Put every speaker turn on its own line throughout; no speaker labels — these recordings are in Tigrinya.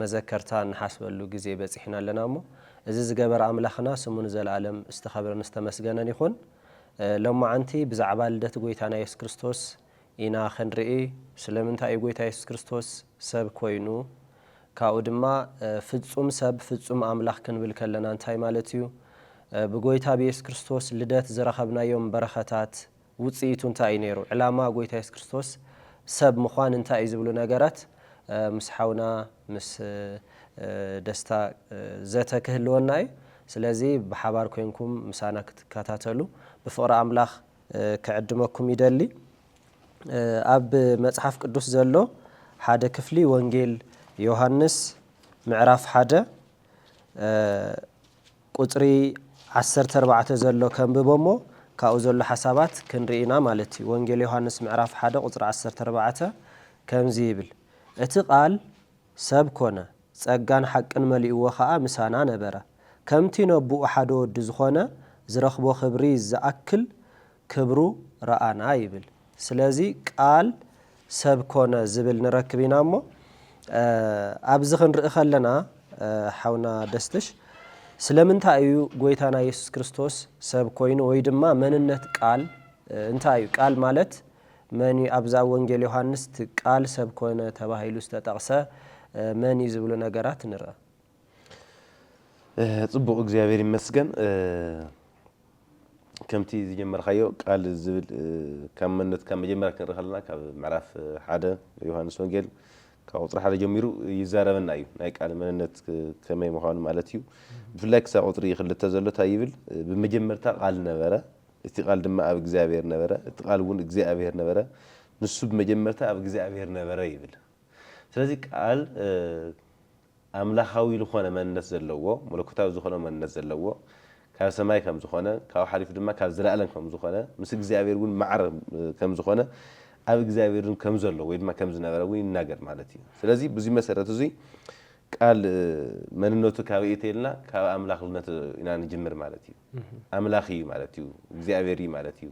መዘከርታ እንሓስበሉ ግዜ በጺሕና ኣለና እሞ እዚ ዝገበረ ኣምላኽና ስሙ ንዘልኣለም ዝተኸብረን ዝተመስገነን ይኹን። ሎማዓንቲ ብዛዕባ ልደት ጎይታና የሱስ ክርስቶስ ኢና ክንርኢ። ስለምንታይ እዩ ጎይታ የሱስ ክርስቶስ ሰብ ኮይኑ? ካብኡ ድማ ፍጹም ሰብ ፍጹም ኣምላኽ ክንብል ከለና እንታይ ማለት እዩ? ብጎይታ ብየሱስ ክርስቶስ ልደት ዝረኸብናዮም በረኸታት ውጽኢቱ እንታይ እዩ ነይሩ? ዕላማ ጎይታ የሱስ ክርስቶስ ሰብ ምዃን እንታይ እዩ ዝብሉ ነገራት ምስ ሓውና ምስ ደስታ ዘተ ክህልወና እዩ። ስለዚ ብሓባር ኮይንኩም ምሳና ክትከታተሉ ብፍቕሪ ኣምላኽ ክዕድመኩም ይደሊ። ኣብ መጽሓፍ ቅዱስ ዘሎ ሓደ ክፍሊ ወንጌል ዮሃንስ ምዕራፍ ሓደ ቁጽሪ ዓሰርተ ኣርባዕተ ዘሎ ከንብቦ እሞ ካብኡ ዘሎ ሓሳባት ክንርኢ ኢና ማለት እዩ። ወንጌል ዮሃንስ ምዕራፍ ሓደ ቁጽሪ ዓሰርተ ኣርባዕተ ከምዚ ይብል፣ እቲ ቃል ሰብ ኮነ፣ ጸጋን ሓቅን መሊእዎ ኸኣ ምሳና ነበረ፣ ከምቲ ነቦኡ ሓደ ወዱ ዝኾነ ዝረኽቦ ክብሪ ዝኣክል ክብሩ ረኣና ይብል ስለዚ ቃል ሰብ ኮነ ዝብል ንረክብ ኢና እሞ ኣብዚ ክንርኢ ከለና ሓውና ደስትሽ ስለምንታይ እዩ ጎይታና የሱስ ክርስቶስ ሰብ ኮይኑ ወይ ድማ መንነት ቃል እንታይ እዩ ቃል ማለት መን እዩ ኣብዛ ወንጌል ዮሃንስ ቃል ሰብ ኮነ ተባሂሉ ዝተጠቕሰ መን እዩ ዝብሉ ነገራት ንርኣ።
ጽቡቅ እግዚኣብሔር ይመስገን ከምቲ ዝጀመርካዮ ቃል ዝብል ካብ መንነት ካብ መጀመርያ ክንርኢ ከለና ካብ ምዕራፍ ሓደ ዮሃንስ ወንጌል ካብ ቁፅሪ ሓደ ጀሚሩ ይዛረበና እዩ ናይ ቃል መንነት ከመይ ምዃኑ ማለት እዩ ብፍላይ ክሳብ ቁፅሪ ክልተ ዘሎ እንታይ ይብል ብመጀመርታ ቃል ነበረ እቲ ቃል ድማ ኣብ እግዚኣብሔር ነበረ እቲ ቃል እውን እግዚኣብሔር ነበረ ንሱ ብመጀመርታ ኣብ እግዚኣብሔር ነበረ ይብል ስለዚህ ቃል ኣምላኻዊ ልኾነ መንነት ዘለዎ፣ መለኮታዊ ዝኾነ መንነት ዘለዎ፣ ካብ ሰማይ ከም ዝኾነ፣ ካብኡ ሓሊፉ ድማ ካብ ዘለኣለም ከም ዝኾነ፣ ምስ እግዚኣብሔር እውን ማዕረ ከም ዝኾነ፣ ኣብ እግዚኣብሔርን ከም ዘሎ ወይ ድማ ከም ዝነበረ እውን ይናገር ማለት እዩ። ስለዚ ብዙይ መሰረት እዙይ ቃል መንነቱ ካበይ እዩ ተይልና ካብ ኣምላኽልነቱ ኢና ንጅምር ማለት እዩ። ኣምላኽ እዩ ማለት እዩ እግዚኣብሔር እዩ ማለት እዩ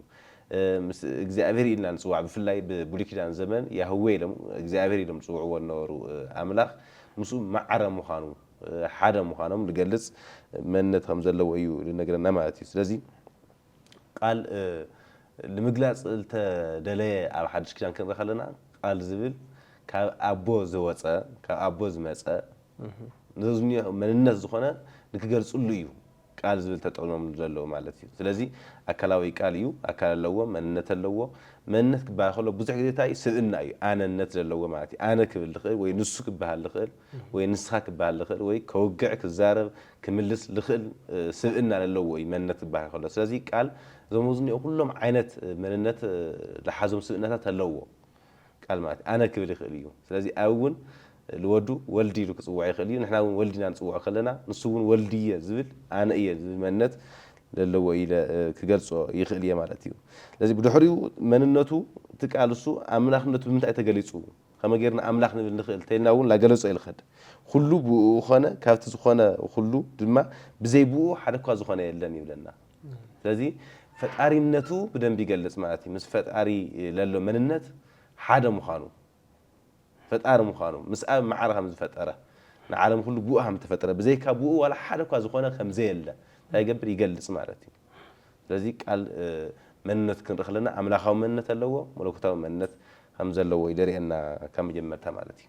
ምስ እግዚኣብሔር ኢልና ንጽዋዕ ብፍላይ ብብሉይ ኪዳን ዘመን ያህዌ ኢሎም እግዚኣብሔር ኢሎም ዝጽውዕዎ ዝነበሩ ኣምላኽ ምስኡ ማዕረ ምዃኑ ሓደ ምዃኖም ዝገልጽ መንነት ከም ዘለዎ እዩ ዝነግረና ማለት እዩ ስለዚ ቃል ንምግላጽ ዝተደለየ ኣብ ሓድሽ ኪዳን ክንርኢ ከለና ቃል ዝብል ካብ ኣቦ ዝወጸ ካብ ኣቦ ዝመጸ ዘዝንዮ መንነት ዝኾነ ንክገልጽሉ እዩ ቃል ዝብል ተጠቂሞምሉ ዘለዉ ማለት እዩ ስለዚ ኣካላዊ ቃል እዩ ኣካል ኣለዎ መንነት ኣለዎ መንነት ክበሃል ከሎ ብዙሕ ግዜ እንታይ እዩ ስብእና እዩ ኣነነት ዘለዎ ማለት እዩ ኣነ ክብል ዝኽእል ወይ ንሱ ክበሃል ዝኽእል ወይ ንስኻ ክበሃል ዝኽእል ወይ ከውግዕ ክዛረብ ክምልስ ዝኽእል ስብእና ዘለዎ እዩ መንነት ክበሃል ከሎ ስለዚ ቃል እዞም ኣብዚ ዝኒኦ ኩሎም ዓይነት መንነት ዝሓዞም ስብእናታት ኣለዉዎ ቃል ማለት እዩ። ኣነ ክብል ይኽእል እዩ። ስለዚ ኣብ እውን ልወዱ ወልድ ኢሉ ክጽውዖ ይኽእል እዩ። ንሕና እውን ወልድ ኢና ንጽውዖ ከለና ንሱ እውን ወልድ እየ ዝብል ኣነ እየ ዝብል መንነት ለለዎ ኢለ ክገልጾ ይኽእል እየ ማለት እዩ። ስለዚ ብድሕሪኡ መንነቱ እቲ ቃል እሱ ኣምላኽነቱ ብምንታይ ተገሊጹ ከመይ ጌርና ኣምላኽ ንብል ንኽእል እንተኢልና እውን ላገለጾ እዩ ልኸድ። ኹሉ ብእኡ ኾነ ካብቲ ዝኾነ ኹሉ ድማ ብዘይ ብእኡ ሓደኳ ዝኾነ የለን ይብለና። ስለዚ ፈጣሪነቱ ብደንቢ ይገልፅ ማለት እዩ። ምስ ፈጣሪ ለሎ መንነት ሓደ ምዃኑ ፈጣሪ ምዃኑ ምስ ኣብ ማዕረ ከም ዝፈጠረ ንዓለም ኩሉ ብኡ ከም ዝተፈጠረ ብዘይካ ብኡ ዋላ ሓደ እኳ ዝኾነ ከም ዘየለ እንታይ ይገብር ይገልፅ ማለት እዩ። ስለዚ ቃል መንነቱ ክንርኢ ከለና ኣምላኻዊ መንነት ኣለዎ መለኮታዊ መንነት ከም ዘለዎ እዩ ዘርእየና ካብ መጀመርታ ማለት እዩ።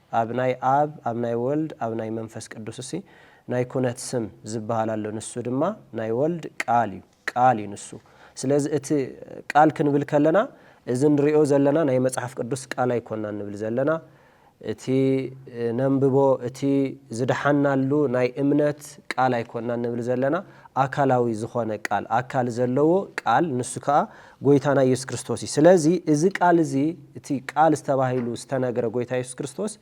ኣብ ናይ ኣብ ኣብ ናይ ወልድ ኣብ ናይ መንፈስ ቅዱስሲ ናይ ኩነት ስም ዝበሃል ኣሎ ንሱ ድማ ናይ ወልድ ቃል እዩ ቃል እዩ ንሱ ስለዚ እቲ ቃል ክንብል ከለና እዚ ንሪኦ ዘለና ናይ መጽሓፍ ቅዱስ ቃል ኣይኮናን ንብል ዘለና እቲ ነንብቦ እቲ ዝደሓናሉ ናይ እምነት ቃል ኣይኮናን ንብል ዘለና ኣካላዊ ዝኾነ ቃል ኣካል ዘለዎ ቃል ንሱ ከኣ ጎይታና ኢየሱስ ክርስቶስ እዩ። ስለዚ እዚ ቃል እዚ እቲ ቃል ዝተባሂሉ ዝተነግረ ጎይታ ኢየሱስ ክርስቶስ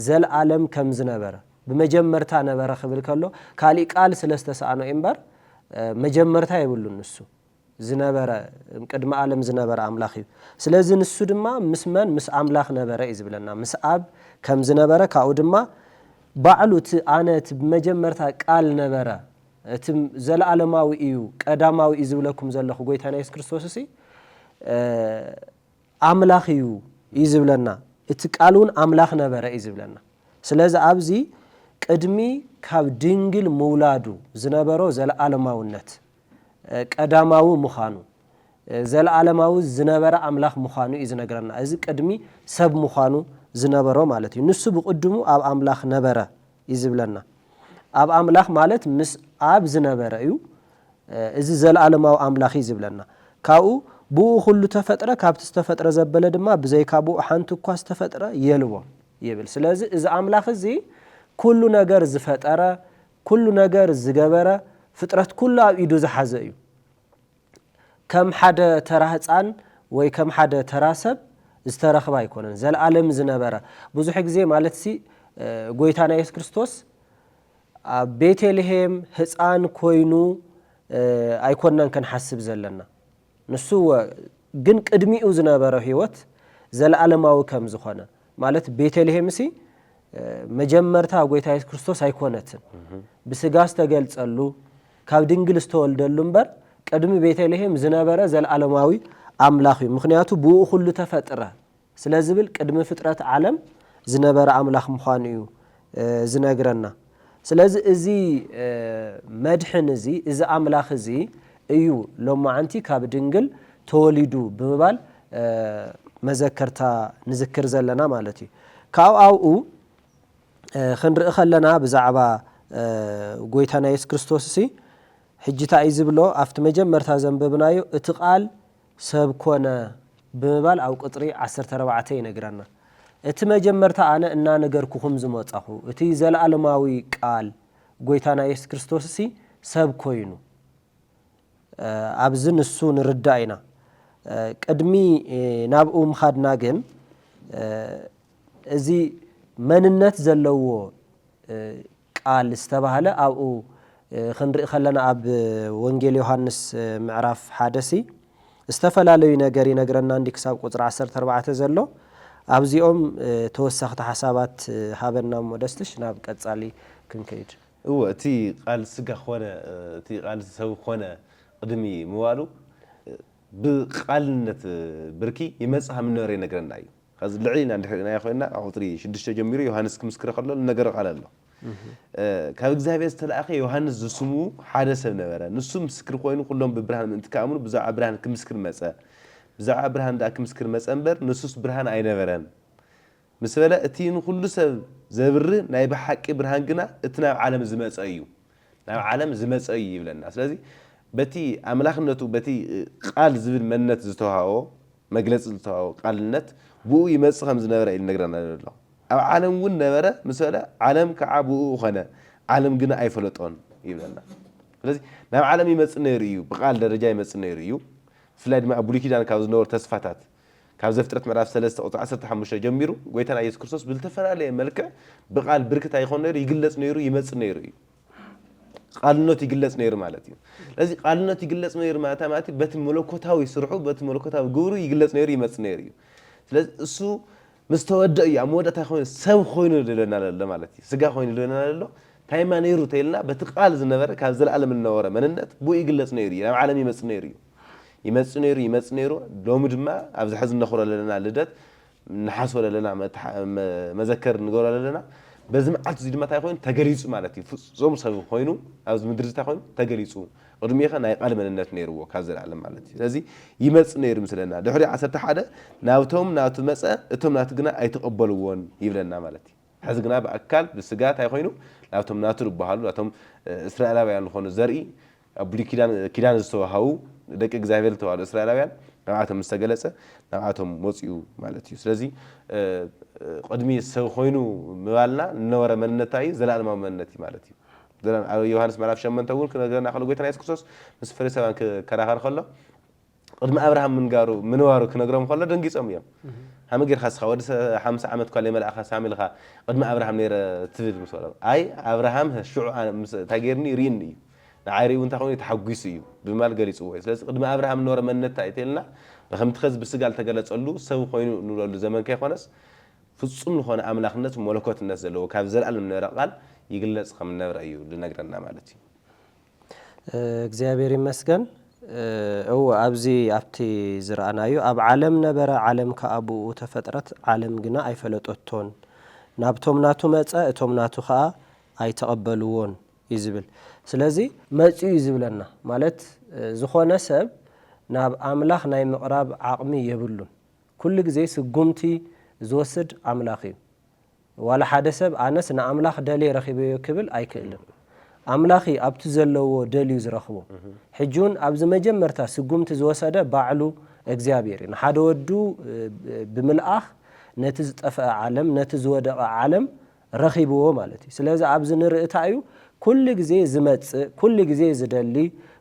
ዘልኣለም ከም ዝነበረ ብመጀመርታ ነበረ ክብል ከሎ ካሊእ ቃል ስለ ዝተሰኣኖ እዩ እምበር መጀመርታ የብሉን ንሱ ዝነበረ ቅድሚ ኣለም ዝነበረ ኣምላኽ እዩ። ስለዚ ንሱ ድማ ምስ መን ምስ ኣምላኽ ነበረ እዩ ዝብለና ምስ ኣብ ከም ዝነበረ ካብኡ ድማ ባዕሉ እቲ ኣነ እቲ ብመጀመርታ ቃል ነበረ እቲ ዘለኣለማዊ እዩ ቀዳማዊ እዩ ዝብለኩም ዘለኹ ጎይታና የሱስ ክርስቶስ እሲ ኣምላኽ እዩ እዩ ዝብለና እቲ ቃል እውን ኣምላኽ ነበረ እዩ ዝብለና ስለዚ ኣብዚ ቅድሚ ካብ ድንግል ምውላዱ ዝነበሮ ዘለኣለማውነት ቀዳማዊ ምዃኑ ዘለኣለማዊ ዝነበረ ኣምላኽ ምዃኑ እዩ ዝነግረና እዚ ቅድሚ ሰብ ምዃኑ ዝነበሮ ማለት እዩ ንሱ ብቕድሙ ኣብ ኣምላኽ ነበረ እዩ ዝብለና። ኣብ ኣምላኽ ማለት ምስ ኣብ ዝነበረ እዩ እዚ ዘለኣለማዊ ኣምላኽ እዩ ዝብለና። ካብኡ ብእኡ ኩሉ ተፈጥረ ካብቲ ዝተፈጥረ ዘበለ ድማ ብዘይካ ብእኡ ሓንቲ እኳ ዝተፈጥረ የልቦን ይብል። ስለዚ እዚ ኣምላኽ እዚ ኩሉ ነገር ዝፈጠረ ኩሉ ነገር ዝገበረ ፍጥረት ኩሉ ኣብ ኢዱ ዝሓዘ እዩ። ከም ሓደ ተራ ህጻን ወይ ከም ሓደ ተራ ሰብ ዝተረኽበ ኣይኮነን፣ ዘለኣለም ዝነበረ ብዙሕ ግዜ ማለትሲ ጎይታና የሱስ ክርስቶስ ኣብ ቤተልሄም ህጻን ኮይኑ ኣይኮናን ክንሓስብ ዘለና ንሱ እወ ግን ቅድሚኡ ዝነበረ ህይወት ዘለኣለማዊ ከም ዝኾነ ማለት ቤተልሄምሲ መጀመርታ ጎይታ የሱስ ክርስቶስ ኣይኮነትን ብስጋ ዝተገልጸሉ ካብ ድንግል ዝተወልደሉ እምበር ቅድሚ ቤተልሔም ዝነበረ ዘለዓለማዊ ኣምላኽ እዩ፣ ምኽንያቱ ብእኡ ዅሉ ተፈጥረ ስለ ዝብል ቅድሚ ፍጥረት ዓለም ዝነበረ ኣምላኽ ምዃኑ እዩ ዝነግረና። ስለዚ እዚ መድሕን እዚ፣ እዚ ኣምላኽ እዚ እዩ ሎማዕንቲ ካብ ድንግል ተወሊዱ ብምባል መዘከርታ ንዝክር ዘለና ማለት እዩ። ካብኡ ኣብኡ ኽንርኢ ኸለና ብዛዕባ ጎይታና የሱስ ክርስቶስሲ ሕጂ ታይ እዩ ዝብሎ ኣብቲ መጀመርታ ዘንበብናዮ እቲ ቃል ሰብ ኮነ ብምባል ኣብ ቁጽሪ ዓሰርተ ኣርባዕተ ይነግረና እቲ መጀመርታ ኣነ እናነገርኩኹም ዝመጻኹ እቲ ዘለኣለማዊ ቃል ጎይታና የሱስ ክርስቶስሲ ሰብ ኮይኑ ኣብዚ ንሱ ንርዳእ ኢና ቅድሚ ናብኡ ምኻድና ግን እዚ መንነት ዘለዎ ቃል ዝተባህለ ኣብኡ ክንርኢ ከለና ኣብ ወንጌል ዮሃንስ ምዕራፍ ሓደ ሲ ዝተፈላለዩ ነገር ይነግረና እንዲ ክሳብ ቁፅሪ ዓሰርተ ኣርባዕተ ዘሎ ኣብዚኦም ተወሰኽቲ ሓሳባት ሃበና እሞ ደስትሽ ናብ ቀፃሊ ክንከይድ። እወ እቲ
ቃል ስጋ ኮነ እቲ ቃል ሰብ ኮነ ቕድሚ ምባሉ ብቓልነት ብርኪ ይመፅእ ሃምነበረ ይነግረና እዩ። ኸዚ ልዕል ኢልና እንድሕር ርኢናዮ ዄንና፣ ካብ ቝጽሪ ሽዱሽተ ጀሚሩ ዮሃንስ ክምስክር ኸሎ እነገሮ ቓል ኣሎ። ካብ እግዚኣብሄር ዝተላእከ ዮሃንስ ዝስሙ ሓደ ሰብ ነበረ። ንሱ ምስክር ዀይኑ ዅሎም ብብርሃን ምእንቲ ኪኣምኑ ብዛዕባ ብርሃን ክምስክር መጸ። ብዛዕባ ብርሃን ደኣ ክምስክር መጸ እምበር፣ ንሱስ ብርሃን ኣይነበረን ምስ በለ፣ እቲ ንዅሉ ሰብ ዘብርህ ናይ ብሓቂ ብርሃን ግና እቲ ናብ ዓለም ዝመጸ እዩ። ናብ ዓለም ዝመጸ እዩ ይብለና። ስለዚ በቲ ኣምላኽነቱ በቲ ቓል ዝብል መንነት ዝተውሃቦ፣ መግለጺ ልታዊ ቃልነት ብእኡ ይመጽእ ከም ዝነበረ እዩ ልነግረና ዘሎ። ኣብ ዓለም እውን ነበረ፣ ምስ በለ ዓለም ከዓ ብእኡ ኾነ፣ ዓለም ግና ኣይፈለጦን ይብለና። ስለዚ ናብ ዓለም ይመጽእ ነይሩ እዩ፣ ብቃል ደረጃ ይመጽእ ነይሩ እዩ። ብፍላይ ድማ ኣብ ብሉይ ኪዳን ካብ ዝነበሩ ተስፋታት ካብ ዘፍጥረት ምዕራፍ ሰለስተ ቁጽሪ ዓሰርተ ሓሙሽተ ጀሚሩ ጎይታና ኢየሱስ ክርስቶስ ብልተፈላለየ መልክዕ ብቃል ብርክት ኣይኾን ነይሩ፣ ይግለጽ ነይሩ፣ ይመጽእ ነይሩ እዩ። ቃልነቱ ይግለጽ ነይሩ ማለት እዩ። ስለዚ ቃልነቱ ይግለጽ ነይሩ ማለት ማለት በቲ መለኮታዊ ስርሑ በቲ መለኮታዊ ግብሩ ይግለጽ ነይሩ ይመጽእ ነይሩ እዩ። ስለዚ እሱ ምስ ተወደ እዩ ኣብ መወዳእታ ኮይኑ ሰብ ኮይኑ ድለና ዘሎ ማለት እዩ። ስጋ ኮይኑ ድለና ዘሎ ታይማ ነይሩ ተይልና በቲ ቃል ዝነበረ ካብ ዘለኣለም ዝነበረ መንነት ብኡ ይግለጽ ነይሩ እዩ። ናብ ዓለም ይመጽእ ነይሩ እዩ። ይመጽእ ነይሩ ይመጽእ ነይሩ ሎሚ ድማ ኣብዚ ሕዚ እነኽብሮ ዘለና ልደት ንሓስቦ ለለና መዘከሪ ንገብሮ ለለና በዚ መዓልቲ እዚ ድማ ታይ ኮይኑ ተገሊፁ ማለት እዩ ፍፁም ሰብ ኮይኑ ኣብዚ ምድሪ እዚ ታይ ኮይኑ ተገሊፁ ቅድሚኡኸ ናይ ቃል መንነት ነይርዎ ካብ ዘለኣለም ማለት እዩ ስለዚ ይመፅ ነይሩ ምስለና ድሕሪ ዓሰርተ ሓደ ናብቶም ናቱ መፀ እቶም ናቱ ግና ኣይተቐበልዎን ይብለና ማለት እዩ ሕዚ ግና ብኣካል ብስጋ ታይ ኮይኑ ናብቶም ናቱ ዝበሃሉ ናቶም እስራኤላውያን ዝኾኑ ዘርኢ ኣብ ብሉይ ኪዳን ኪዳን ዝተዋሃቡ ደቂ እግዚኣብሔር ዝተባህሉ እስራኤላውያን ናብኣቶም ምስ ተገለጸ ናብኣቶም ወጺኡ ማለት እዩ። ስለዚ ቅድሚ ሰብ ኮይኑ ምባልና ንነበረ መንነት እንታይ እዩ ዘለኣለማዊ መንነት እዩ ማለት እዩ። ዘላ ኣብ ዮሃንስ ምዕራፍ ሸመንተ እውን ክነግረና ከሎ ጎይታና የሱስ ክርስቶስ ምስ ፈሪሳውያን ክከራኸር ከሎ ቕድሚ ኣብርሃም ምንጋሩ ምንባሩ ክነግሮም ከሎ ደንጊጾም እዮም ሃመ ጌርካ ስኻ ወዲ ሓምሳ ዓመት እኳ ለይመልኣኻ ሳሚ ልኻ ቕድሚ ኣብርሃም ነይረ ትብል ምስ በሎም ኣይ ኣብርሃም ህ ሽዑ እንታይ ጌርኒ ርኢኒ እዩ ንዓይ ሪኡ እንታይ ኮይኑ ተሓጒሱ እዩ ብምባል ገሊጽዎ እዩ ስለዚ ቕድሚ ኣብርሃም ዝነበረ መንነት እንታይ እዩ ተልና ብከምቲ ከዚ ብስጋ ልተገለጸሉ ሰብ ኮይኑ ንብለሉ ዘመን ከይኮነስ ፍጹም ልኾነ ኣምላኽነት ሞለኮትነት ዘለዎ ካብ ዘልኣለም ዝነበረ ቓል ይግለጽ ከም ዝነብረ እዩ ልነግረና ማለት እዩ እግዚኣብሔር
ይመስገን እወ ኣብዚ ኣብቲ ዝረኣናዮ ኣብ ዓለም ነበረ ዓለም ከኣ ብእኡ ተፈጥረት ዓለም ግና ኣይፈለጠቶን ናብቶም ናቱ መጸ እቶም ናቱ ከኣ ኣይተቐበልዎን እዩ ዝብል ስለዚ መጽኡ እዩ ዝብለና ማለት ዝኾነ ሰብ ናብ ኣምላኽ ናይ ምቕራብ ዓቕሚ የብሉን ኩሉ ግዜ ስጉምቲ ዝወስድ ኣምላኽ እዩ ዋላ ሓደ ሰብ ኣነስ ንኣምላኽ ደልየ ረኺበዮ ክብል ኣይክእልን። ኣምላኺ ኣብቲ ዘለዎ ደልዩ ዝረኽቦ። ሕጂውን ኣብዚ መጀመርታ ስጉምቲ ዝወሰደ ባዕሉ እግዚኣብሔር እዩ። ንሓደ ወዱ ብምልኣኽ ነቲ ዝጠፈኣ ዓለም ነቲ ዝወደቐ ዓለም ረኺብዎ ማለት እዩ። ስለዚ ኣብዚ ንርኢ ታይ እዩ ኩሉ ግዜ ዝመጽእ ኩሉ ግዜ ዝደሊ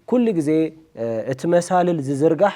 ኩሉ ግዜ እቲ መሳልል ዝዝርጋሕ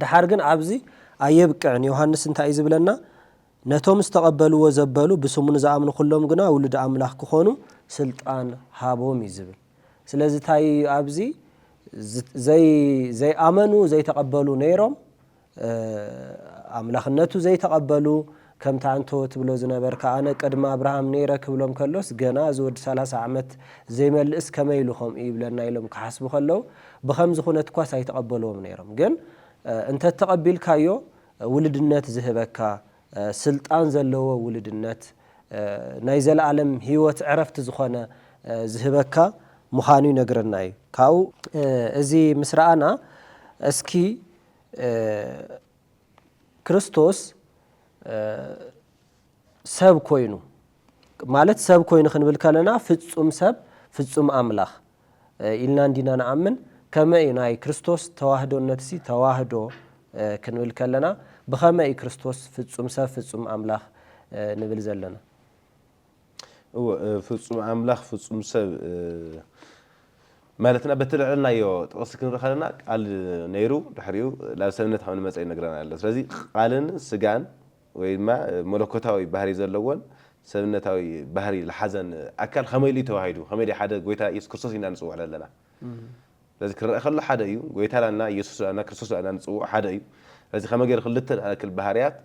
ደሓር ግን ኣብዚ ኣየብቅዕን፣ ዮሃንስ እንታይ እዩ ዝብለና? ነቶም ዝተቐበልዎ ዘበሉ ብስሙ ንዝኣምኑ ዅሎም ግና ውሉድ ኣምላኽ ክዀኑ ስልጣን ሃቦም እዩ ዝብል። ስለዚ እንታይ እዩ ኣብዚ? ዘይኣመኑ፣ ዘይተቐበሉ ነይሮም፣ ኣምላኽነቱ ዘይተቐበሉ፣ ከምቲ ኣንቶ ትብሎ ዝነበርካ ኣነ ቅድሚ ኣብርሃም ነይረ ክብሎም ከሎስ ገና እዚ ወዲ ሰላሳ ዓመት ዘይመልእስ ከመይ ኢሉ ከምኡ ይብለና ኢሎም ክሓስቡ ከለው ብከምዚ ኩነትኳስ ኣይተቀበልዎም ነይሮም ግን እንተተቀቢልካዮ ውልድነት ዝህበካ ስልጣን ዘለዎ ውልድነት ናይ ዘለኣለም ሂወት ዕረፍቲ ዝኮነ ዝህበካ ምካኑ ይነግረና እዩ ካብኡ እዚ ምስ ረኣና እስኪ ክርስቶስ ሰብ ኮይኑ ማለት ሰብ ኮይኑ ክንብል ከለና ፍጹም ሰብ ፍጹም ኣምላኽ ኢልና እንዲና ንኣምን ከመይ እዩ ናይ ክርስቶስ ተዋህዶነት ሲ ተዋህዶ ክንብል ከለና ብኸመይ እዩ ክርስቶስ ፍጹም ሰብ ፍጹም ኣምላኽ ንብል ዘለና
እወ ፍጹም ኣምላኽ ፍጹም ሰብ ማለትና በቲ ልዕልናዮ ጥቕሲ ክንርኢ ከለና ቃል ነይሩ ድሕሪኡ ናብ ሰብነት ከም ንመጸ ይነግረና ኣሎ ስለዚ ቃልን ስጋን ወይ ድማ መለኮታዊ ባህሪ ዘለዎን ሰብነታዊ ባህሪ ልሓዘን ኣካል ከመይ ኢሉ እዩ ተዋሂዱ ከመይ ድዩ ሓደ ጎይታ ኢየሱስ ክርስቶስ ኢልና ንጽውዕ ለለና ስለዚ ክረኣ ከሎ ሓደ እዩ ጎይታ ዳና ኢየሱስ ዳና ክርስቶስ ዳና ንጽውዖ ሓደ እዩ ስለዚ ከመይ ገይሩ ክልተ ንኣክል ባህርያት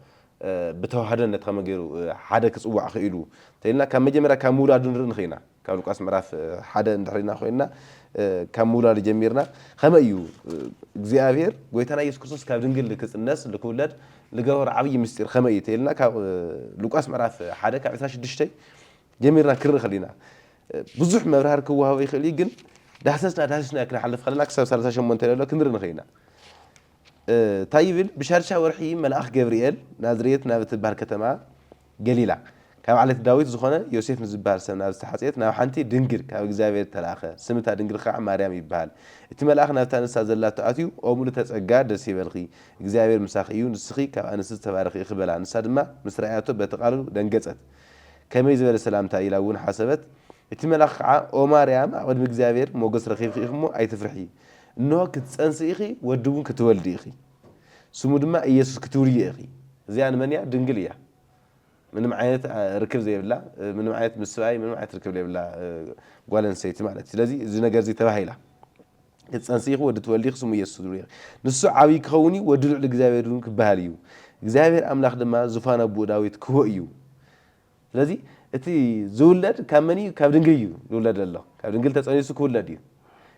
ብተዋህደነት ከመይ ገይሩ ሓደ ክጽዋዕ ክኢሉ እንተኢልና ካብ መጀመርያ ካብ ምውላዱ ንርኢ ንኽእል ኢና ካብ ሉቃስ ምዕራፍ ሓደ እንድሕር ኢና ኮይንና ካብ ምውላዱ ጀሚርና ከመይ እዩ እግዚኣብሔር ጎይታና ኢየሱስ ክርስቶስ ካብ ድንግል ክጽነስ ልክውለድ ልገበሮ ዓብዪ ምስጢር ከመይ እዩ እንተኢልና ካብ ሉቃስ ምዕራፍ ሓደ ካብ 26 ጀሚርና ክንርኢ ከሊና ብዙሕ መብራህርሂ ክወሃቦ ይኽእል እዩ ግን ዳህሰስና ዳህሲስናዮ ክንሓልፍ ከለና ክሳብ ሰላሳ ሸሞንተ ለሎ ክንሪ ንኽእል ኢና። ታይ ይብል ብሻድሻይ ወርሒ መልኣኽ ገብርኤል ናዝሬት ናብ እትብሃል ከተማ ገሊላ ካብ ዓሌት ዳዊት ዝኾነ ዮሴፍ ንዝብሃል ሰብ ናብ ዝተሓጽየት ናብ ሓንቲ ድንግል ካብ እግዚኣብሔር ተልኣኸ ስም እታ ድንግል ኸዓ ማርያም ይብሃል እቲ መልኣኽ ናብታ ንሳ ዘላቶ ኣትዩ ኦ ምልእተ ጸጋ ደስ ይበልኺ እግዚኣብሔር ምሳኺ እዩ ንስኺ ካብ ኣንስቲ ዝተባረኺ ኢኺ በላ ንሳ ድማ ምስ ረኣያቶ በቲ ቃሉ ደንገጸት ከመይ ዝበለ ሰላምታ ኢላ እውን ሓሰበት። እቲ መልኣኽ ኸዓ፣ ኦ ማርያም፣ ኣብ ቅድሚ እግዚኣብሄር ሞገስ ረኺብኪ ኢኺ እሞ፣ ኣይትፍርሒ። እንሆ፣ ክትፀንሲ ኢኺ፣ ወዲ እውን ክትወልዲ ኢኺ። ስሙ ድማ ኢየሱስ ክትብልዮ ኢኺ። እዚኣ ንመን እያ? ድንግል እያ። ምንም ዓይነት ርክብ ዘይብላ፣ ምንም ዓይነት ምስ ስብኣይ ምንም ዓይነት ርክብ ዘይብላ ጓል ኣንስተይቲ ማለት እዩ። ስለዚ እዚ ነገር እዚ ተባሂላ። ክትጸንሲ ኢኺ፣ ወዲ ትወልዲ ኢኺ፣ ስሙ ኢየሱስ ክትብልዮ ኢኺ። ንሱ ዓብዪ ኪኸውን እዩ፣ ወዲ ልዑል እግዚኣብሄር እውን ኪበሃል እዩ፣ እግዚኣብሄር ኣምላኽ ድማ ዙፋን ኣቦኡ ዳዊት ኪህቦ እዩ። ስለዚ እቲ ዚውለድ ካብ መን እዩ? ካብ ድንግል እዩ ዚውለድ ዘሎ። ካብ ድንግል ተጸኒሱ ኪውለድ እዩ።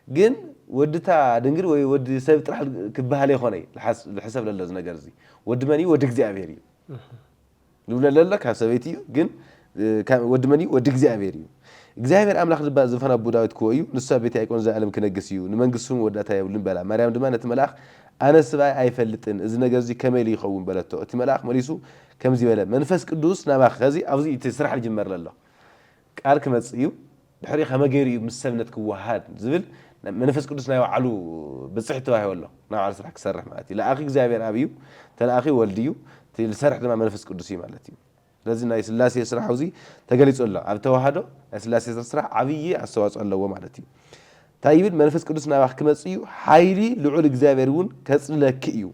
ግን ወዲ እታ ድንግል ወይ ወዲ ሰብ ጥራሕ ኪበሃል ኣይኮነይ ልሓስ ልሕሰብ ለሎ እዚ ነገር እዚ። ወዲ መን እዩ? ወዲ እግዚኣብሄር እዩ። ዝብሎ ለሎ ካብ ሰበይቲ እዩ ግን ወዲ መን እዩ ወዲ እግዚኣብሔር እዩ እግዚኣብሔር ኣምላኽ ድማ ዝፋን ኣቦ ዳዊት ክወ እዩ ንሱ ኣብ ቤት ያዕቆብ ዘኣለም ክነግስ እዩ ንመንግስቲ ስሙ ወዳእታ የብሉን በላ ማርያም ድማ ነቲ መልኣኽ ኣነ ስብኣይ ኣይፈልጥን እዚ ነገር እዚ ከመይ ኢሉ ይኸውን በለቶ እቲ መልኣኽ መሊሱ ከምዚ በለ መንፈስ ቅዱስ ናባኺ ከዚ ኣብዚ እቲ ስራሕ ዝጅመር ለሎ ቃል ክመጽእ እዩ ድሕሪ ከመይ ገይሩ እዩ ምስ ሰብነት ክወሃሃድ ዝብል መንፈስ ቅዱስ ናይ ባዕሉ ብጽሕት ተዋሂቡ ኣሎ ናይ ባዕሉ ስራሕ ክሰርሕ ማለት እዩ ለኣኺ እግዚኣብሔር ኣብ እዩ ተለኣኺ ወልድ እዩ እቲ ዝሰርሕ ድማ መንፈስ ቅዱስ እዩ ማለት እዩ ስለዚ ናይ ስላሴ ስራሕ ኣብዚ ተገሊጹ ኣሎ ኣብ ተዋህዶ ናይ ስላሴ ስራሕ ዓብዪ ኣስተዋጽኦ ኣለዎ ማለት እዩ እንታይ ይብል መንፈስ ቅዱስ ናባኺ ክመጽእ እዩ ሓይሊ ልዑል እግዚኣብሔር እውን ከጽልለኪ እዩ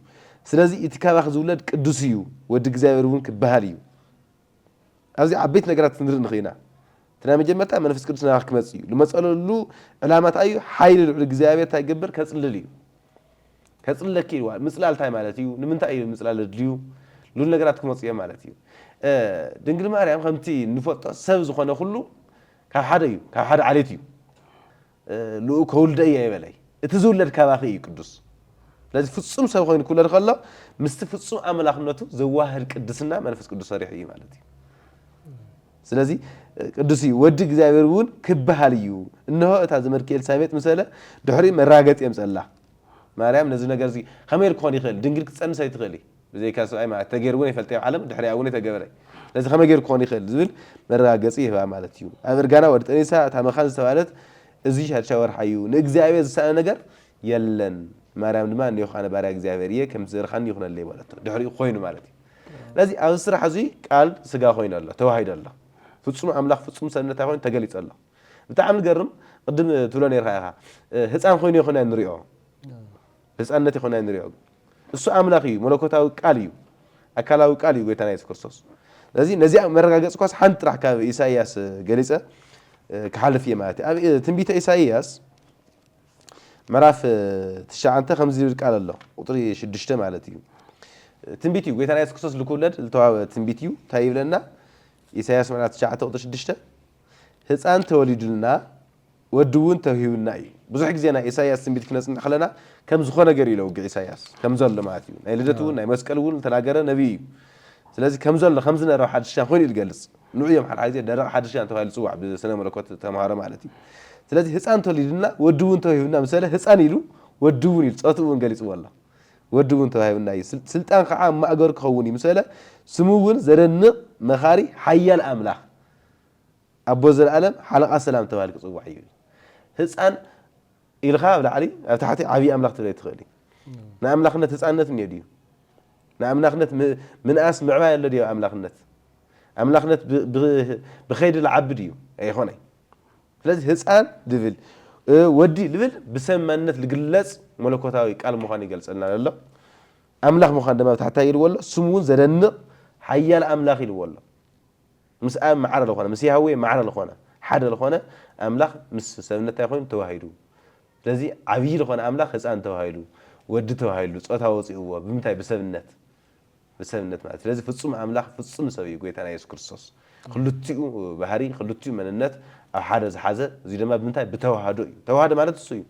ስለዚ እቲ ካባኺ ዝውለድ ቅዱስ እዩ ወዲ እግዚኣብሔር እውን ክበሃል እዩ ኣብዚ ዓበይቲ ነገራት ክንርኢ ንኽእል ኢና። እቲ ናይ መጀመርታ መንፈስ ቅዱስ ናባኻ ክመጽእ እዩ። ልመጸለሉ ዕላማ እንታይ እዩ? ሓይሊ ልዑል እግዚኣብሔር እንታይ ክገብር? ከጽልል እዩ። ከጽልለኪ ኢልዋ። ምጽላል እንታይ ማለት እዩ? ንምንታይ እዩ ምጽላል ዘድልዩ? ልዑል ነገራት ክመጹ እዮም ማለት እዩ። ድንግል ማርያም ከምቲ ንፈልጦ ሰብ ዝኾነ ኩሉ ካብ ሓደ እዩ፣ ካብ ሓደ ዓሌት እዩ። ልኡእ ከውልደ እየ ይበለይ እቲ ዝውለድ ካባኺ እዩ ቅዱስ ስለዚ ፍጹም ሰብ ኮይኑ ክውለድ ከሎ ምስቲ ፍጹም ኣምላኽነቱ ዘዋህድ ቅድስና መንፈስ ቅዱስ ሰሪሑ እዩ ማለት እዩ ስለዚ ቅዱስ እዩ ወዲ እግዚኣብሔር እውን ክበሃል እዩ እነሆ እታ ዘመድኪ ኤልሳቤጥ ምሰለ ድሕሪ መራገፂ የምፀላ ማርያም ነዚ ነገር እዚ ከመይ ክኾን ይኽእል ድንግል ክትፀንስ ኣይትኽእል ብዘይካ ሰብኣይ ማለት ተገይሩ እውን ኣይፈልጥን ኣብ ዓለም ድሕሪኣ እውን ኣይተገበረ ስለዚ ከመይ ገይሩ ክኾን ይኽእል ዝብል መረጋገፂ ይህባ ማለት እዩ ኣብ እርጋና ወዲ ጠኒሳ እታ መኻን ዝተባህለት እዚ ሻድሻይ ወርሓ እዩ ንእግዚኣብሔር ዝሰኣነ ነገር የለን ማርያም ድማ እኔኹ ኣነ ባርያ እግዚኣብሔር እየ ከምቲ ዘርኻኒ ይኹነለይ በለቶ ድሕሪኡ ኮይኑ ማለት እዩ ስለዚ ኣብዚ ስራሕ እዚ ቃል ስጋ ኮይኑ ኣሎ ተዋሂዶ ኣሎ ፍፁም ኣምላኽ ፍፁም ሰብ እንታይ ኮይኑ ተገሊፁ ኣሎ ብጣዕሚ ዝገርም ቅድም ትብሎ ነርካ ኢኻ ህፃን ኮይኑ ይኹን ንሪኦ ህፃንነት ይኹን ንሪኦ እሱ ኣምላኽ እዩ መለኮታዊ ቃል እዩ ኣካላዊ ቃል እዩ ጎይታና የሱስ ክርስቶስ ስለዚ ነዚኣ መረጋገጽኳስ ሓንቲ ጥራሕ ካብ ኢሳይያስ ገሊጸ ክሓልፍ እየ ማለት እዩ ኣብ ትንቢተ ኢሳይያስ ምዕራፍ ትሽዓተ ከምዚ ዝብል ቃል ኣሎ ቁጥሪ ሽዱሽተ ማለት እዩ ትንቢት እዩ ጎይታና የሱስ ክርስቶስ ልክውለድ ዝተዋህበ ትንቢት እዩ እንታይ ይብለና ኢሳይያስ ምዕራፍ ትሽዓተ ቁጥሪ ሽዱሽተ ህፃን ተወሊዱልና ወዲ እውን ተውሂቡና እዩ ብዙሕ ግዜ ናይ ኢሳያስ ትንቢት ክነጽንዕ ከለና ከም ዝኾ ነገር እዩ ለውግዕ ኢሳያስ ከም ዘሎ ማለት እዩ ናይ ልደት እውን ናይ መስቀል እውን ልተናገረ ነብይ እዩ ስለዚ ከም ዘሎ ከም ዝነረብ ሓድሽሻን ኮይኑ እዩ ልገልጽ ንዑ እዮም ሓድሓ ግዜ ደረቕ ሓድሽሻን ተባሂሉ ዝጽዋዕ ብስነ መለኮት ተማሃሮ ማለት እዩ ስለዚ ህጻን ተወሊዱና ወዲ እውን ተውሂቡና ምስ በለ ህጻን ኢሉ ወዲ እውን ኢሉ ጾቱ እውን ገሊጽዎ ኣሎ ወዲ እውን ተዋሂቡና እዩ ስልጣን ከዓ ኣብ ማእገሩ ክኸውን እዩ ምስ በለ ስሙ እውን ዘደንቕ መኻሪ ሓያል ኣምላኽ ኣቦ ዘልኣለም ሓለቓ ሰላም ተባሂሉ ክጽዋዕ እዩ። ህጻን ኢልኻ ኣብ ላዕሊ ኣብ ታሕቲ ዓብዪ ኣምላኽ ትብለይ ትኽእል እዩ። ንኣምላኽነት ህጻንነት እኒኦ ድዩ? ንኣምላኽነት ምንኣስ ምዕባይ ኣሎ ድዩ ኣብ ኣምላኽነት? ኣምላኽነት ብኸይዲ ልዓቢ ድዩ? ኣይኾነይ። ስለዚ ህጻን ልብል ወዲ ልብል ብሰብ ማንነት ልግለጽ መለኮታዊ ቃል ምዃኑ ይገልጸልና ኣሎ። ኣምላኽ ምዃን ድማ ብታሕታይ ኢልዎ ኣሎ። ስሙ እውን ዘደንቕ ሓያል ኣምላኽ ኢልዎ ኣሎ። ምስ ኣብ ማዕረ ልኾነ ምስ ያህዌ ማዕረ ልኾነ ሓደ ልኾነ ኣምላኽ ምስ ሰብነት ታይ ኾይኑ ተዋሂዱ ስለዚ ዓብዪ ልኾነ ኣምላኽ ህፃን ተባሂሉ ወዲ ተባሂሉ ፆታ ወፂኡዎ ብምንታይ ብሰብነት ብሰብነት ማለት ስለዚ ፍፁም ኣምላኽ ፍፁም ሰብ እዩ ጎይታና የሱስ ክርስቶስ ክልቲኡ ባህሪ ክልቲኡ መንነት ኣብ ሓደ ዝሓዘ እዙይ ድማ ብምንታይ ብተዋህዶ እዩ ተዋህዶ ማለት እሱ እዩ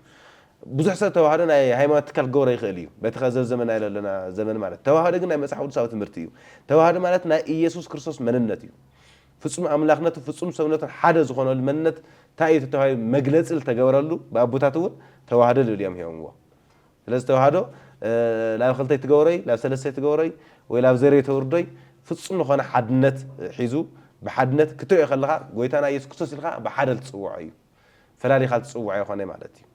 ብዙሕ ሰብ ተዋህዶ ናይ ሃይማኖት ትካል ክገብሮ ይኽእል እዩ በቲ ከዚ ዘመናዮ ለሎና ዘመን ማለት ተዋህዶ ግን ናይ መጽሓፍ ቅዱሳዊ ትምህርቲ እዩ ተዋህዶ ማለት ናይ ኢየሱስ ክርስቶስ መንነት እዩ ፍጹም ኣምላክነትን ፍጹም ሰብነቱን ሓደ ዝኾነሉ መንነት ታይ እዩ ተተባሂሉ መግለጺ ልተገበረሉ ብኣቦታት እውን ተዋህዶ ልብል እዮም ሂቦምዎ ስለዚ ተዋህዶ ላብ ክልተይ ትገብሮይ ላብ ሰለስተይ ትገብሮይ ወይ ላብ ዘርይ ተውርዶይ ፍጹም ልኾነ ሓድነት ሒዙ ብሓድነት ክትሪኦ ከለኻ ጎይታና ኢየሱስ ክርስቶስ ኢልካ ብሓደ ልትጽውዖ እዩ ፈላሊኻ ትጽውዖ የኾነይ ማለት እዩ።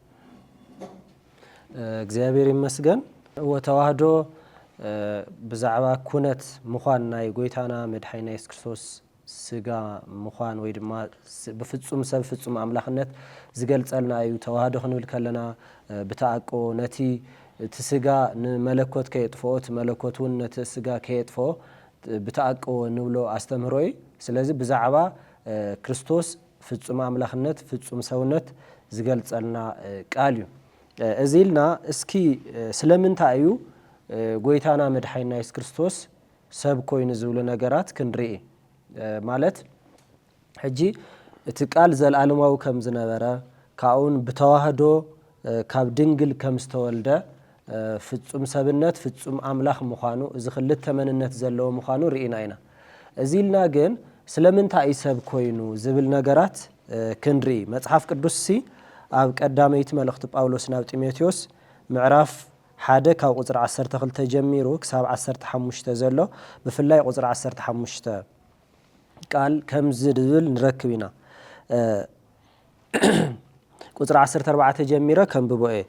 እግዚኣብሔር ይመስገን እወ ተዋህዶ ብዛዕባ ኩነት ምዃን ናይ ጎይታና መድሓኒና የሱስ ክርስቶስ ስጋ ምዃን ወይ ድማ ብፍጹም ሰብ ፍጹም ኣምላኽነት ዝገልጸልና እዩ ተዋህዶ ክንብል ከለና ብተኣቅቦ ነቲ እቲ ስጋ ንመለኮት ከየጥፍኦ እቲ መለኮት እውን ነቲ ስጋ ከየጥፍኦ ብተኣቅቦ ንብሎ ኣስተምህሮ እዩ ስለዚ ብዛዕባ ክርስቶስ ፍጹም ኣምላኽነት ፍጹም ሰውነት ዝገልጸልና ቃል እዩ። እዚ ኢልና እስኪ ስለምንታይ እዩ ጎይታና መድሓኒና የሱስ ክርስቶስ ሰብ ኮይኑ ዝብሉ ነገራት ክንርኢ ማለት ሕጂ እቲ ቃል ዘለኣለማዊ ከም ዝነበረ ካብኡውን ብተዋህዶ ካብ ድንግል ከም ዝተወልደ ፍጹም ሰብነት ፍጹም ኣምላኽ ምዃኑ እዚ ክልተ መንነት ዘለዎ ምዃኑ ርኢና ኢና። እዚ ኢልና ግን ስለምንታይ እዩ ሰብ ኮይኑ ዝብል ነገራት ክንርኢ መጽሓፍ ቅዱስሲ ኣብ ቀዳመይቲ መልእኽቲ ጳውሎስ ናብ ጢሞቴዎስ ምዕራፍ ሓደ ካብ ቁጽሪ ዓሰርተ ክልተ ጀሚሩ ክሳብ ዓሰርተ ሓሙሽተ ዘሎ ብፍላይ ቁጽሪ ዓሰርተ ሓሙሽተ ቃል ከምዚ ድብል ንረክብ ኢና ቁጽሪ ዓሰርተ ኣርባዕተ ጀሚረ ከንብቦ እየ።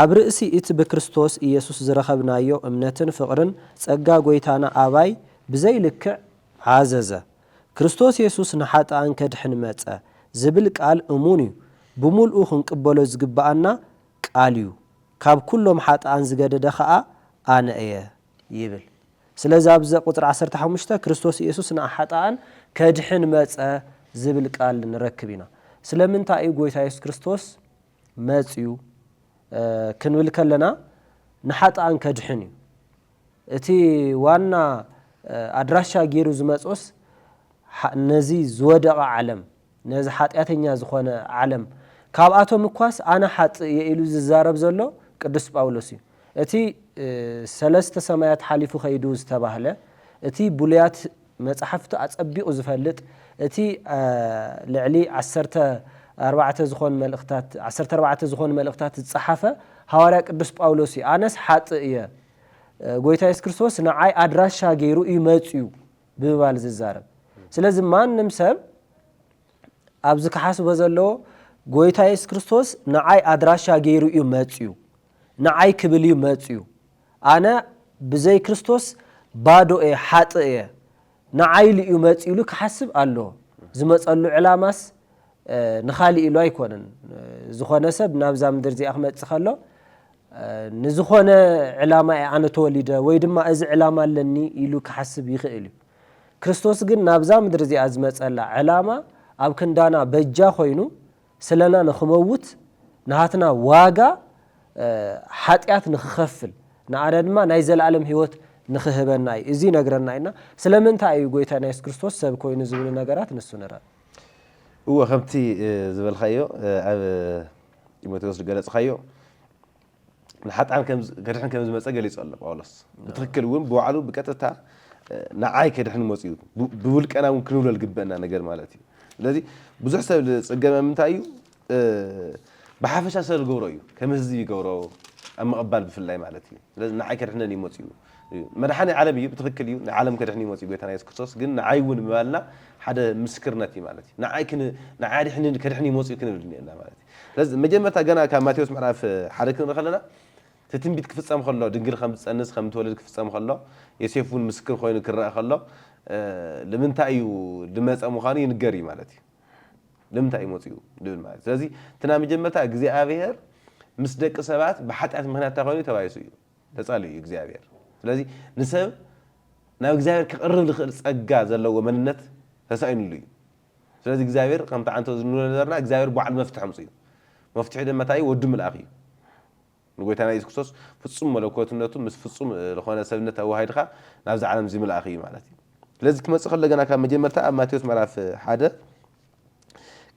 ኣብ ርእሲ እቲ ብክርስቶስ ኢየሱስ ዝረኸብናዮ እምነትን ፍቕርን ጸጋ ጐይታና ኣባይ ብዘይ ልክዕ ዓዘዘ። ክርስቶስ የሱስ ንሓጥኣን ከድሕን መጸ ዝብል ቃል እሙን እዩ። ብምልኡ ክንቅበሎ ዝግብኣና ቃል እዩ። ካብ ኩሎም ሓጥኣን ዝገደደ ከኣ ኣነ እየ። ይብል። ስለዚ ኣብዚ ቁጽሪ ዓሰርተ ሓሙሽተ ክርስቶስ ኢየሱስ ንኣሓጥኣን ከድሕን መጸ ዝብል ቃል ንረክብ ኢና። ስለምንታይ እዩ ጎይታ ኢየሱስ ክርስቶስ መጽዩ ክንብል ከለና ንሓጥኣን ከድሕን እዩ። እቲ ዋና ኣድራሻ ጌሩ ዝመጾስ ነዚ ዝወደቐ ዓለም ነዚ ሓጢኣተኛ ዝኾነ ዓለም ካብኣቶም እኳስ ኣነ ሓጥእ እየ ኢሉ ዝዛረብ ዘሎ ቅዱስ ጳውሎስ እዩ። እቲ ሰለስተ ሰማያት ሓሊፉ ከይዱ ዝተባህለ፣ እቲ ብሉያት መጻሕፍቲ ኣጸቢቑ ዝፈልጥ፣ እቲ ልዕሊ ዓሰርተ ኣርባዕተ ዝኾን መልእኽታት ዓሰርተ ኣርባዕተ ዝኾኑ መልእኽታት ዝጸሓፈ ሃዋርያ ቅዱስ ጳውሎስ እዩ። ኣነስ ሓጥእ እየ፣ ጎይታ የሱስ ክርስቶስ ንዓይ ኣድራሻ ገይሩ እዩ መጺኡ ብምባል ዝዛረብ ስለዚ ማንም ሰብ ኣብዚ ክሓስቦ ዘለዎ ጎይታ የሱስ ክርስቶስ ንዓይ ኣድራሻ ገይሩ እዩ መጽዩ ንዓይ ክብል እዩ መጽዩ ኣነ ብዘይ ክርስቶስ ባዶ እየ ሓጥእ እየ ንዓይ ኢሉ እዩ መጽዩ ኢሉ ክሓስብ ኣለዎ ዝመጸሉ ዕላማስ ንኻሊእ ኢሉ ኣይኮነን ዝኾነ ሰብ ናብዛ ምድር እዚኣ ክመፅእ ከሎ ንዝኾነ ዕላማ እየ ኣነ ተወሊደ ወይ ድማ እዚ ዕላማ ኣለኒ ኢሉ ክሓስብ ይኽእል እዩ ክርስቶስ ግን ናብዛ ምድሪ እዚኣ ዝመፀላ ዕላማ ኣብ ክንዳና በጃ ኮይኑ ስለና ንክመውት ንሃትና ዋጋ ሓጢኣት ንክኸፍል ንኣነ ድማ ናይ ዘለኣለም ህይወት ንክህበና እዩ እዚ ነግረና ኢና ስለምንታይ እዩ ጎይታ ናይ የሱስ ክርስቶስ ሰብ ኮይኑ ዝብሉ ነገራት ንሱ ንረብ እወ
ከምቲ ዝበልካዮ ኣብ ጢሞቴዎስ ዝገለጽካዮ ንሓጥኣን ከድሕን ከም ዝመጸ ገሊጹ ኣሎ ጳውሎስ ብትክክል እውን ብባዕሉ ብቀጥታ ንዓይ ከድሕን መጽኡ ብውልቀና እውን ክንብሎ ዝግበአና ነገር ማለት እዩ ስለዚ ብዙሕ ሰብ ዝጽገመ ምንታይ እዩ ብሓፈሻ ስለ ዝገብሮ እዩ ከም ህዝቢ ይገብሮ ኣብ ምቕባል ብፍላይ ማለት እዩ ስለዚ ንዓይ ከድሕነኒ እዩ መጺኡ መድሓኒ ዓለም እዩ ብትኽክል እዩ ንዓለም ከድሕን እዩ መጺኡ ጎይታና የሱስ ክርስቶስ ግን ንዓይ እውን ምባልና ሓደ ምስክርነት እዩ ማለት እዩ ንዓይ ንዓይ ኣድሕኒ ከድሕን እዩ መጺኡ ክንብል እኒኤና ማለት እዩ ስለዚ መጀመርታ ገና ካብ ማቴዎስ ምዕራፍ ሓደ ክንርኢ ከለና እቲ ትንቢት ክፍጸም ከሎ ድንግል ከም ትጸንስ ከም ትወልድ ክፍጸም ከሎ ዮሴፍ እውን ምስክር ኮይኑ ክረኣ ከሎ ንምንታይ እዩ ዝመጸ ምዃኑ ይንገር እዩ ማለት እዩ ንምንታይ እዩ መጺኡ ድብል ማለት ስለዚ እቲ ናይ መጀመርታ እግዚኣብሄር ምስ ደቂ ሰባት ብሓጢኣት ምክንያት እንታይ ኮይኑ ተባይሱ እዩ ተጻልዩ እዩ እግዚኣብሄር ስለዚ ንሰብ ናብ እግዚኣብሄር ክቕርብ ዝኽእል ጸጋ ዘለዎ መንነት ተሳኢኑሉ እዩ ስለዚ እግዚኣብሄር ከምቲ ዓንተ ዝንብሎ ነበርና እግዚኣብሄር ባዕሉ መፍትሒ ኣምጽኡ መፍትሒ ድማ እንታይ እዩ ወዱ ምልኣኽ እዩ ንጎይታና ኢየሱስ ክርስቶስ ፍጹም መለኮትነቱ ምስ ፍጹም ልኾነ ሰብነት ኣወሃሂድካ ናብዚ ዓለም እዚ ምልኣኽ እዩ ማለት እዩ። ስለዚ ክመጽእ ከሎ ገና ካብ መጀመርታ ኣብ ማቴዎስ ምዕራፍ ሓደ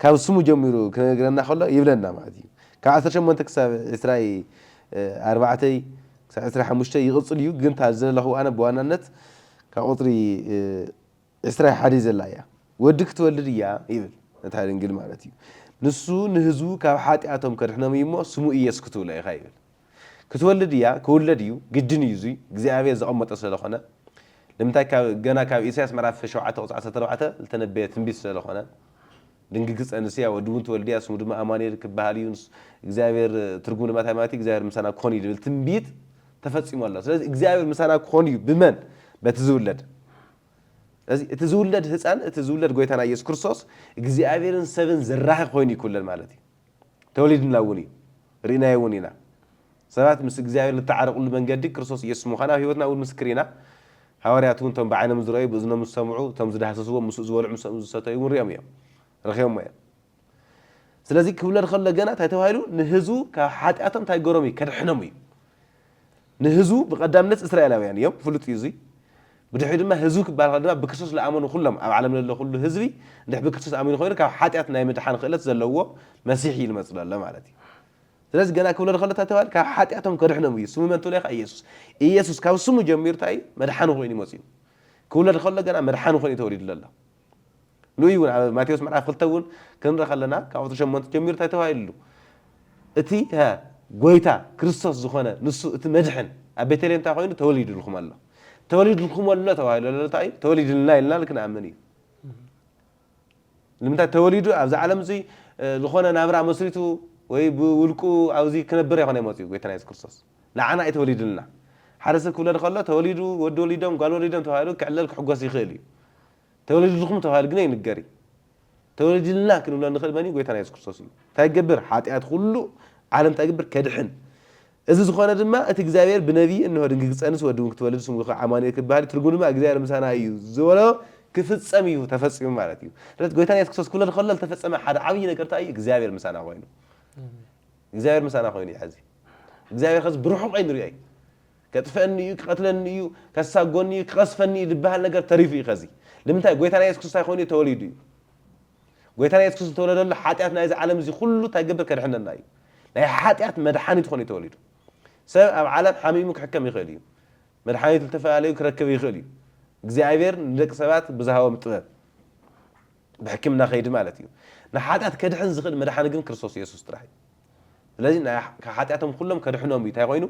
ካብ ስሙ ጀሚሩ ክነግረና ከሎ ይብለና ማለት እዩ። ካብ ዓሰርተ ሸሞንተ ክሳብ ዕስራ ኣርባዕተ ክሳብ ዕስራ ሓሙሽተ ይቕጽል እዩ ግን እታ ዘለኹ ኣነ ብዋናነት ካብ ቁጽሪ ኤርትራ ሓዲ ዘላ እያ ወዲ ክትወልድ እያ ይብል ነታ ድንግል ማለት እዩ ንሱ ንህዝቡ ካብ ሓጥያቶም ከድሕኖም እዩ እሞ ስሙ ኢየሱስ ክትብሎ ኢኻ ይብል ክትወልድ እያ ክውለድ እዩ ግድን እዩ እዙይ እግዚኣብሔር ዘቐመጦ ስለለኾነ ንምንታይ ካብ ገና ካብ ኢሳያስ ምዕራፍ ሸውዓተ ቁጽሪ ዓሰርተ ኣርባዕተ ዝተነበየ ትንቢት ስለለኾነ ድንግል ክትጸንስ እያ ወዲ እውን ትወልድ እያ ስሙ ድማ ኣማኑኤል ክበሃል እዩ እግዚኣብሔር ትርጉም ድማ እንታይ ማለት እዩ እግዚኣብሔር ምሳና ክኾን እዩ ዝብል ትንቢት ተፈጺሙ ኣሎ ስለዚ እግዚኣብሔር ምሳና ክኾን እዩ ብመን በቲ ዝውለድ ስለዚ እቲ ዝውለድ ህፃን እቲ ዝውለድ ጎይታና ኢየሱስ ክርስቶስ እግዚኣብሔርን ሰብን ዘራኺ ኮይኑ እዩ ክውለድ ማለት እዩ። ተወሊድና እውን እዩ ርኢናዮ እውን ኢና። ሰባት ምስ እግዚኣብሔር ልተዓረቁሉ መንገዲ ክርስቶስ ኢየሱስ ምዃኑ ኣብ ህይወትና እውን ምስክር ኢና። ሃዋርያት እውን እቶም ብዓይኖም ዝረእዩ ብእዝኖም ዝሰምዑ እቶም ዝዳህሰስዎ ምስኡ ዝበልዑ ምስኦም ዝሰተዩ እውን ሪኦም እዮም ረኺቦሞ እዮም። ስለዚ ክብለን ከሎ ገና እንታይ ተባሂሉ ንህዝቡ ካብ ሓጢኣቶም እንታይ ገሮም እዩ ከድሕኖም እዩ ንህዝቡ ብቀዳምነት እስራኤላውያን እዮም ፍሉጥ እዩ እዙይ ብድሕሪ ድማ ህዝቢ ክበሃል ከሎ ድማ ብክርስቶስ ዝኣመኑ ኩሎም ኣብ ዓለም ዘሎ ኩሉ ህዝቢ እንድሕ ብክርስቶስ ኣሚኑ ኮይኑ ካብ ሓጢኣት ናይ ምድሓን ክእለት ዘለዎ መሲሕ እዩ ዝመፅ ዘሎ ማለት እዩ ስለዚ ገና ክብሎ ከሎ እንታይ ተባሂሉ ካብ ሓጢኣቶም ከድሕኖም እዩ ስሙ መን ትብሎ ኢኻ ኢየሱስ ኢየሱስ ካብ ስሙ ጀሚሩ እንታይ እዩ መድሓኒ ኮይኑ ይመፅኡ ክብሎ ከሎ ገና መድሓኒ ኮይኑ ተወሊዱ ዘሎ ንእኡ እውን ኣብ ማቴዎስ ምዕራፍ ክልተ እውን ክንርኢ ከለና ካብ ቁፅሪ ሸሞንተ ጀሚሩ እንታይ ተባሂሉ ኣሉ እቲ ጎይታ ክርስቶስ ዝኾነ ንሱ እቲ መድሕን ኣብ ቤተልሔም እንታይ ኮይኑ ተወሊድልኩም ኣሎ ተወሊድልኩም ኣሎ ተባሂሉ ኣሎ እንታይ እዩ ተወሊድልና ኢልና ክንኣምን እዩ ንምንታይ ተወሊዱ ኣብዚ ዓለም እዚ ዝኾነ ናብራ መስሪቱ ወይ ብውልቁ ኣብዚ ክነብር ኣይኮነ መፅኡ ጎይታና የሱስ ክርስቶስ ንዓና እዩ ተወሊዱልና። ሓደ ሰብ ክውለድ ከሎ ተወሊዱ፣ ወዲ ወሊዶም፣ ጓል ወሊዶም ተባሂሉ ክዕለል ክሕጎስ ይኽእል እዩ። ተወሊድልኩም ተባሂሉ ግና ይንገር እዩ። ተወሊድልና ክንብሎ እንኽእል መን እዩ? ጎይታና የሱስ ክርስቶስ እዩ። እንታይ ክገብር? ሓጢኣት ኩሉ ዓለም እንታይ ክገብር? ከድሕን። እዚ ዝኾነ ድማ እቲ እግዚኣብሄር ብነብዪ እንሆ ድንግል ክትጸንስ ወዲ እውን ክትወልድ ስሙ ከኣ ኣማኑኤል ክበሃል እዩ፣ ትርጉሙ ድማ እግዚኣብሄር ምሳና እዩ ዝበሎ ክፍጸም እዩ፣ ተፈጺሙ ማለት እዩ። ስለዚ ጎይታና የሱስ ክርስቶስ ክውለድ ከሎ ዝተፈጸመ ሓደ ዓብዪ ነገር እንታይ እዩ? እግዚኣብሄር ምሳና ኮይኑ። እግዚኣብሔር ምሳና ኮይኑ እዩ ሐዚ እግዚኣብሔር ኸዚ ብርሑቕ ኣይንሪኦ እዩ ከጥፍኣኒ እዩ ክቐትለኒ እዩ ከሳጎኒ እዩ ክቐስፈኒ እዩ ዝበሃል ነገር ተሪፉ እዩ ኸዚ ንምንታይ ጎይታና የሱስ ክርስቶስ እንታይ ኮይኑ እዩ ተወሊዱ እዩ ጎይታና የሱስ ክርስቶስ ዝተወለደሉ ሓጢኣት ናይዚ ዓለም እዚ ኩሉ እንታይ ገብር ከድሕነና እዩ ናይ ሓጢኣት መድሓኒት ኮይኑ እዩ ተወሊዱ ሰብ ኣብ ዓለም ሓሚሙ ክሕከም ይኽእል እዩ መድሓኒት ዝተፈላለዩ ክረክብ ይኽእል እዩ እግዚኣብሔር ንደቂ ሰባት ብዝሃቦም ጥበብ ብሕክምና ከይዲ ማለት እዩ። ንሓጢኣት ከድሕን ዝኽእል መድሓኒ ግን ክርስቶስ የሱስ ጥራሕ እዩ። ስለዚ ናይ ካብ ሓጢኣቶም ኩሎም ከድሕኖም እዩ እንታይ ኮይኑ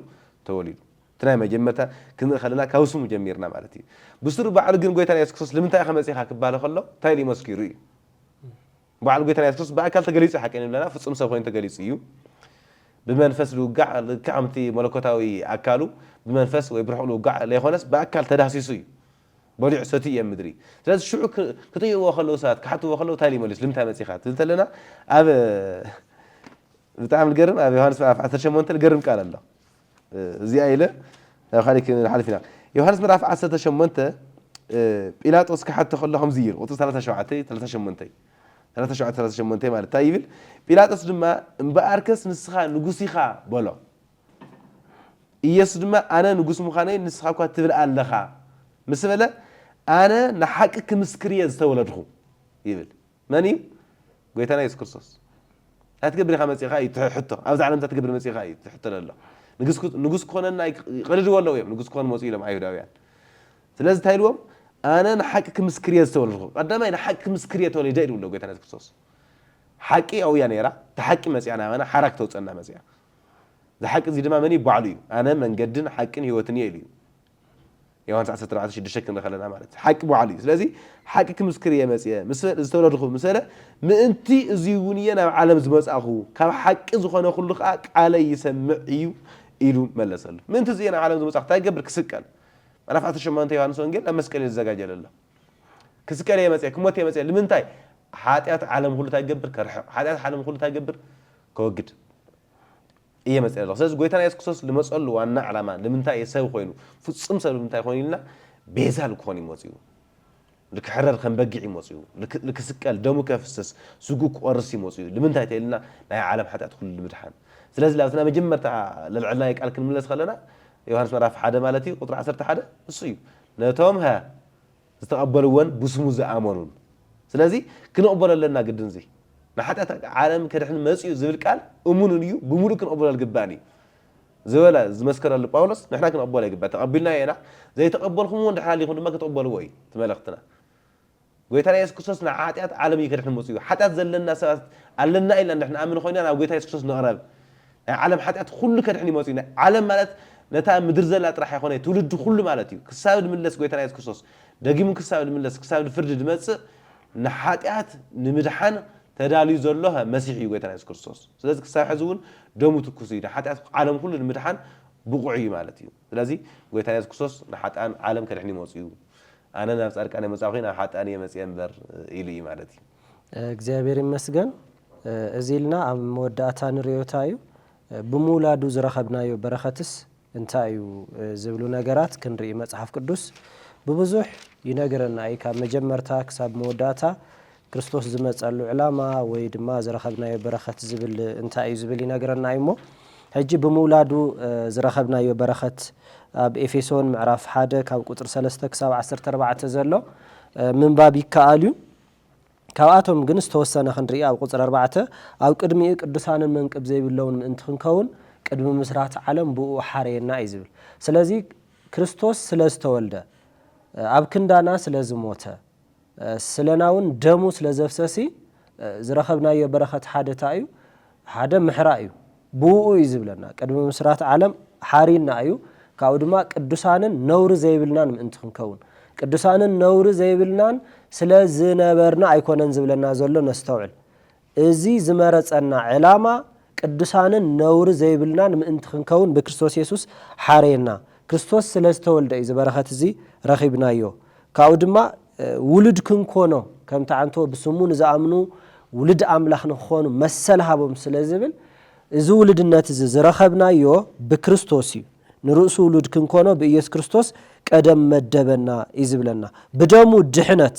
ተወሊዱ። እቲ ናይ መጀመርታ ክንርኢ ከለና ካብ ስሙ ጀሚርና ማለት እዩ። ብስሩ ባዕሉ ግን ጎይታና የሱስ ክርስቶስ ልምንታይ ኢኻ መጺእካ ክባሃል ከሎ እንታይ ኢሉ መስኪሩ እዩ። ባዕሉ ጎይታና የሱስ ክርስቶስ ብኣካል ተገሊጹ ሓቂ ንብለና ፍጹም ሰብ ኮይኑ ተገሊጹ እዩ። ብመንፈስ ልውጋዕ ልክዕ ከምቲ መለኮታዊ ኣካሉ ብመንፈስ ወይ ብርሑቕ ልውጋዕ ለይኾነስ ብኣካል ተዳህሲሱ እዩ። በሊዑ ሰቲዩ እየ ምድሪ ስለዚ ሽዑ ክጥይቕዎ ከለዉ ሰባት ክሓትዎ ከለዉ እንታይ ኢሉ ይመልስ ልምንታይ መጺኻ ትብል ተለና ኣብ ብጣዕሚ ዝገርም ኣብ ዮሃንስ ምዕራፍ ዓሰርተ ሸሞንተ ዝገርም ቃል ኣሎ እዚኣ ኢለ ናብ ካልእ ክንሓልፍ ኢና ዮሃንስ ምዕራፍ ዓሰርተ ሸሞንተ ጲላጦስ ክሓቶ ከሎ ከምዚ ኢሉ ቁጽሪ ሰላሳ ሸውዓተ ሰላሳ ሸሞንተ ሰላሳ ሸውዓተ ሰላሳ ሸሞንተ ማለት እንታይ ይብል ጲላጦስ ድማ እምበኣርከስ ንስኻ ንጉስ ኢኻ በሎ ኢየሱስ ድማ ኣነ ንጉሥ ምዃነይ ንስኻ እኳ ትብል ኣለኻ ምስ በለ ኣነ ንሓቂ ክምስክር እየ ዝተወለድኹ ይብል። መን እዩ? ጎይታና ኢየሱስ ክርስቶስ። እንታይ ትገብር ኢኻ መጺእኻ እዩ እቲ ሕቶ። ኣብዚ ዓለም እንታይ ትገብር መጺእኻ እዩ እቲ ሕቶ ዘሎ። ንጉሥ ክኾነና ይቐድድዎ ኣለዉ እዮም ንጉሥ ክኾኑ መጹ ኢሎም ኣይሁዳውያን። ስለዚ እንታይ ኢልዎም ኣነ ንሓቂ ክምስክር እየ ዝተወለድኹ። ቀዳማይ ንሓቂ ክምስክር እየ ተወሊደ እዩ ዝብሎ ጎይታና ኢየሱስ ክርስቶስ። ሓቂ ኣብኡ እያ ነይራ፣ እታ ሓቂ መጺኣ ናባና ሓራ ክተውጽኣና መጺኣ። ዝሓቂ እዚ ድማ መን እዩ ባዕሉ እዩ ኣነ መንገድን ሓቅን ህይወትን እየ ኢሉ እዩ ዮሃንስ ዓሰርተ ኣርባዕተ ሽዱሽተ ክንርኢ ከለና ማለት እዩ ሓቂ ባዕሉ እዩ ስለዚ ሓቂ ክምስክር እየ መፅየ ምስ ዝተወለድኹ ምስ በለ ምእንቲ እዚ እውን እየ ናብ ዓለም ዝመፃኹ ካብ ሓቂ ዝኾነ ኩሉ ከዓ ቃለይ ይሰምዕ እዩ ኢሉ መለሰሉ ምእንቲ እዚ እየ ናብ ዓለም ዝመፃኹ እንታይ ክገብር ክስቀል ምዕራፍ ዓሰርተ ሸሞንተ ዮሃንስ ወንጌል ናብ መስቀል እዩ ዝዘጋጀ ዘሎ ክስቀል እየ መፅየ ክሞት እየ መፅየ ንምንታይ ሓጢኣት ዓለም ኩሉ እንታይ ክገብር ከርሕቕ ሓጢኣት ዓለም ኩሉ እንታይ ክገብር ከወግድ እየ መጺኤ ዘለኹ። ስለዚ ጎይታና የሱስ ክርስቶስ ልመጸሉ ዋና ዕላማ ልምንታይ እየ ሰብ ኮይኑ፣ ፍጹም ሰብ ልምንታይ ኮይኑ ኢልና ቤዛ ልክኾን እዩ መጺኡ። ልክሕረር ከም በጊዕ እዩ መጺኡ። ልክ ልክስቀል ደሙ ከፍስስ ስግኡ ክቆርስ እዩ መጺኡ። ልምንታይ ተኢልና ናይ ዓለም ሓጢኣት ኩሉ ልምድሓን። ስለዚ ላብቲ ናይ መጀመርታ ለልዐልናዮ ቃል ክንምለስ ከለና ዮሃንስ ምዕራፍ ሓደ ማለት እዩ ቁጽሪ ዓሰርተ ሓደ ንሱ እዩ ነቶም ሀ ዝተቀበልዎን ብስሙ ዝኣመኑን ስለዚ ክንቅበሎ ኣለና ግድን እዚ ንሓጢኣት ዓለም ከድሕን መጺኡ ዝብል ቃል እሙን እዩ ብምሉእ ክንቅበሎ ልግባእን እዩ ዝበለ ዝመስከረሉ ጳውሎስ ንሕና ክንቅበሎ ይግባእ ተቀቢልናዮ ኢና ዘይተቀበልኩምዎ እንድሕር ሃሊኩም ድማ ክትቅበልዎ እዩ እቲ መልእክትና ጎይታና የሱስ ክርስቶስ ንሓጢኣት ዓለም እዩ ከድሕን መጺኡ ሓጢኣት ዘለና ሰባት ኣለና ኢልና እንድሕር ንኣምን ኮይና ናብ ጎይታ የሱስ ክርስቶስ ንቅረብ ናይ ዓለም ሓጢኣት ኹሉ ከድሕን ይመጽኡ ናይ ዓለም ማለት ነታ ምድሪ ዘላ ጥራሕ ኣይኮነይ ትውልዲ ኹሉ ማለት እዩ ክሳብ ድምለስ ጎይታና የሱስ ክርስቶስ ደጊሙ ክሳብ ድምለስ ክሳብ ድፍርዲ ድመጽእ ንሓጢኣት ንምድሓን ተዳልዩ ዘሎ መሲሕ እዩ ጎይታና የሱስ ክርስቶስ ስለዚ ክሳብ ሕዚ እውን ደሙ ትኩስ እዩ ንሓጢኣት ዓለም ኹሉ ንምድሓን ብቑዕ እዩ ማለት እዩ ስለዚ ጎይታና የሱስ ክርስቶስ ንሓጥኣን ዓለም ከድሕን ይመጽኡ ኣነ ናብ ጻድቃን ኣይመጻእኹይን ናብ ሓጥኣን እየ መጽየ እምበር ኢሉ እዩ ማለት እዩ እግዚኣብሔር
ይመስገን እዚ ኢልና ኣብ መወዳእታ ንርእዮታ እዩ ብምውላዱ ዝረኸብናዮ በረኸትስ እንታይ እዩ ዝብሉ ነገራት ክንርኢ መጽሓፍ ቅዱስ ብብዙሕ ይነግረና እዩ ካብ መጀመርታ ክሳብ መወዳእታ ክርስቶስ ዝመጸሉ ዕላማ ወይ ድማ ዝረኸብናዮ በረኸት ዝብል እንታይ እዩ ዝብል ይነግረና እዩ እሞ ሕጂ ብምውላዱ ዝረኸብናዮ በረኸት ኣብ ኤፌሶን ምዕራፍ ሓደ ካብ ቁፅሪ ሰለስተ ክሳብ ዓሰርተ ኣርባዕተ ዘሎ ምንባብ ይከኣል እዩ ካብኣቶም ግን ዝተወሰነ ክንርኢ ኣብ ቁጽሪ ኣርባዕተ ኣብ ቅድሚኡ ቅዱሳንን መንቅብ ዘይብለውን ምእንቲ ክንከውን ቅድሚ ምስራት ዓለም ብእኡ ሓረየና እዩ ዝብል ስለዚ ክርስቶስ ስለ ዝተወልደ ኣብ ክንዳና ስለ ዝሞተ ስለናውን ደሙ ስለ ዘፍሰሲ ዝረኸብናዮ በረኸት ሓደ ታይ እዩ ሓደ ምሕራ እዩ ብእኡ እዩ ዚብለና፣ ቅድሚ ምስራት ዓለም ሓርዩና እዩ፣ ካብኡ ድማ ቅዱሳንን ነውሪ ዘይብልናን ምእንቲ ክንከውን። ቅዱሳንን ነውሪ ዘይብልናን ስለ ዝነበርና ኣይኰነን ዚብለና ዘሎ፣ ነስተውዕል። እዚ ዝመረጸና ዕላማ፣ ቅዱሳንን ነውሪ ዘይብልናን ምእንቲ ክንከውን ብክርስቶስ የሱስ ሓረየና። ክርስቶስ ስለ ዝተወልደ እዩ እዚ በረኸት እዚ ረኺብናዮ፣ ካብኡ ድማ፣ ውሉድ ክንኰኖ፣ ከምቲ ዓንቶ ብስሙ ንዝኣምኑ ውሉድ ኣምላኽ ንኽዀኑ መሰል ሃቦም ስለ ዝብል፣ እዚ ውሉድነት እዚ ዝረኸብናዮ ብክርስቶስ እዩ፣ ንርእሱ ውሉድ ክንኰኖ ብኢየሱስ ክርስቶስ ቀደም መደበና እዩ ዝብለና። ብደሙ ድሕነት፣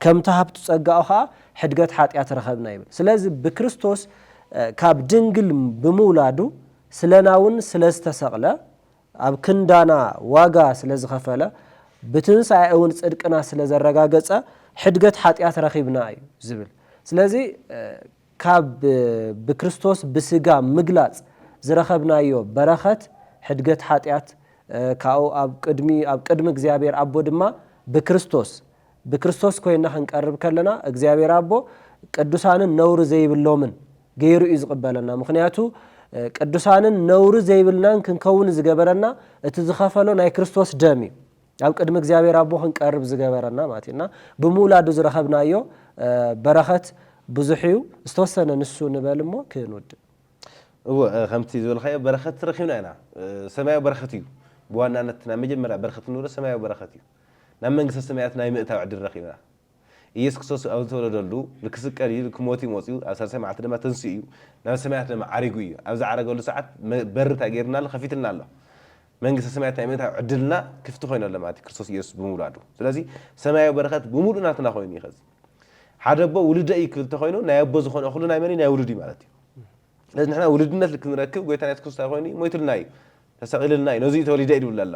ከምቲ ሃብቲ ጸጋኡ ኸኣ ሕድገት ሓጢኣት ረኸብና ይብል። ስለዚ ብክርስቶስ ካብ ድንግል ብምውላዱ ስለና እውን ስለ ዝተሰቕለ ኣብ ክንዳና ዋጋ ስለ ዝኸፈለ፣ ብትንሳኤኡውን ጽድቅና ስለ ዘረጋገጸ፣ ሕድገት ሓጢኣት ረኺብና እዩ ዝብል። ስለዚ ካብ ብክርስቶስ ብስጋ ምግላጽ ዝረኸብናዮ በረኸት ሕድገት ሓጢኣት፣ ካብኡ ኣብ ቅድሚ ኣብ ቅድሚ እግዚኣብሔር ኣቦ ድማ ብክርስቶስ ብክርስቶስ ኮይና ክንቀርብ ከለና እግዚኣብሔር ኣቦ ቅዱሳንን ነውሪ ዘይብሎምን ገይሩ እዩ ዝቕበለና ምኽንያቱ ቅዱሳንን ነውሪ ዘይብልናን ክንከውን ዝገበረና እቲ ዝኸፈሎ ናይ ክርስቶስ ደም እዩ ኣብ ቅድሚ እግዚኣብሔር ኣቦ ክንቀርብ ዝገበረና ማለት እዩ እና ብምውላዱ ዝረኸብናዮ በረኸት ብዙሕ እዩ ዝተወሰነ ንሱ ንበል እሞ ክንውድእ እወ
ከምቲ ዝበልካዮ በረኸት ረኪብና ኢና ሰማያዊ በረኸት እዩ ብዋናነት ናይ መጀመርያ በረኸት ንብሎ ሰማያዊ በረኸት እዩ ናብ መንግስተ ሰማያት ናይ ምእታው ዕድል ረኺብና። ኢየሱስ ክርስቶስ ኣብ ዝተወለደሉ፣ ንክስቀል እዩ፣ ንክሞት እዩ መጺኡ፣ ኣብ ሳልሳይ መዓልቲ ድማ ተንሲኡ እዩ፣ ናብ ሰማያት ድማ ዓሪጉ እዩ። ኣብ ዝዓረገሉ ሰዓት በሪ እንታይ ገይሩልና ኣሎ? ከፊቱልና ኣሎ። መንግስተ ሰማያት ናይ ምእታው ዕድልና ክፍቲ ኮይኑ ኣሎ ማለት እዩ ክርስቶስ ኢየሱስ ብምውላዱ። ስለዚ ሰማያዊ በረኸት ብምሉኡ ናትና ኮይኑ እዩ ከዚ። ሓደ ኣቦ ውሉደይ እዩ ክብል እንተኾይኑ ናይ ኣቦ ዝኾነ እኹሉ ናይ መን እዩ? ናይ ውሉድ እዩ ማለት እዩ። ስለዚ ንሕና ውሉድነት ክንረክብ ጎይታና ኢየሱስ ክርስቶስ እንታይ ኮይኑ እዩ? ሞይቱልና እዩ፣ ተሰቒሉልና እዩ፣ ነዙይ እዩ ተወሊደ ኢሉልና ኣሎ።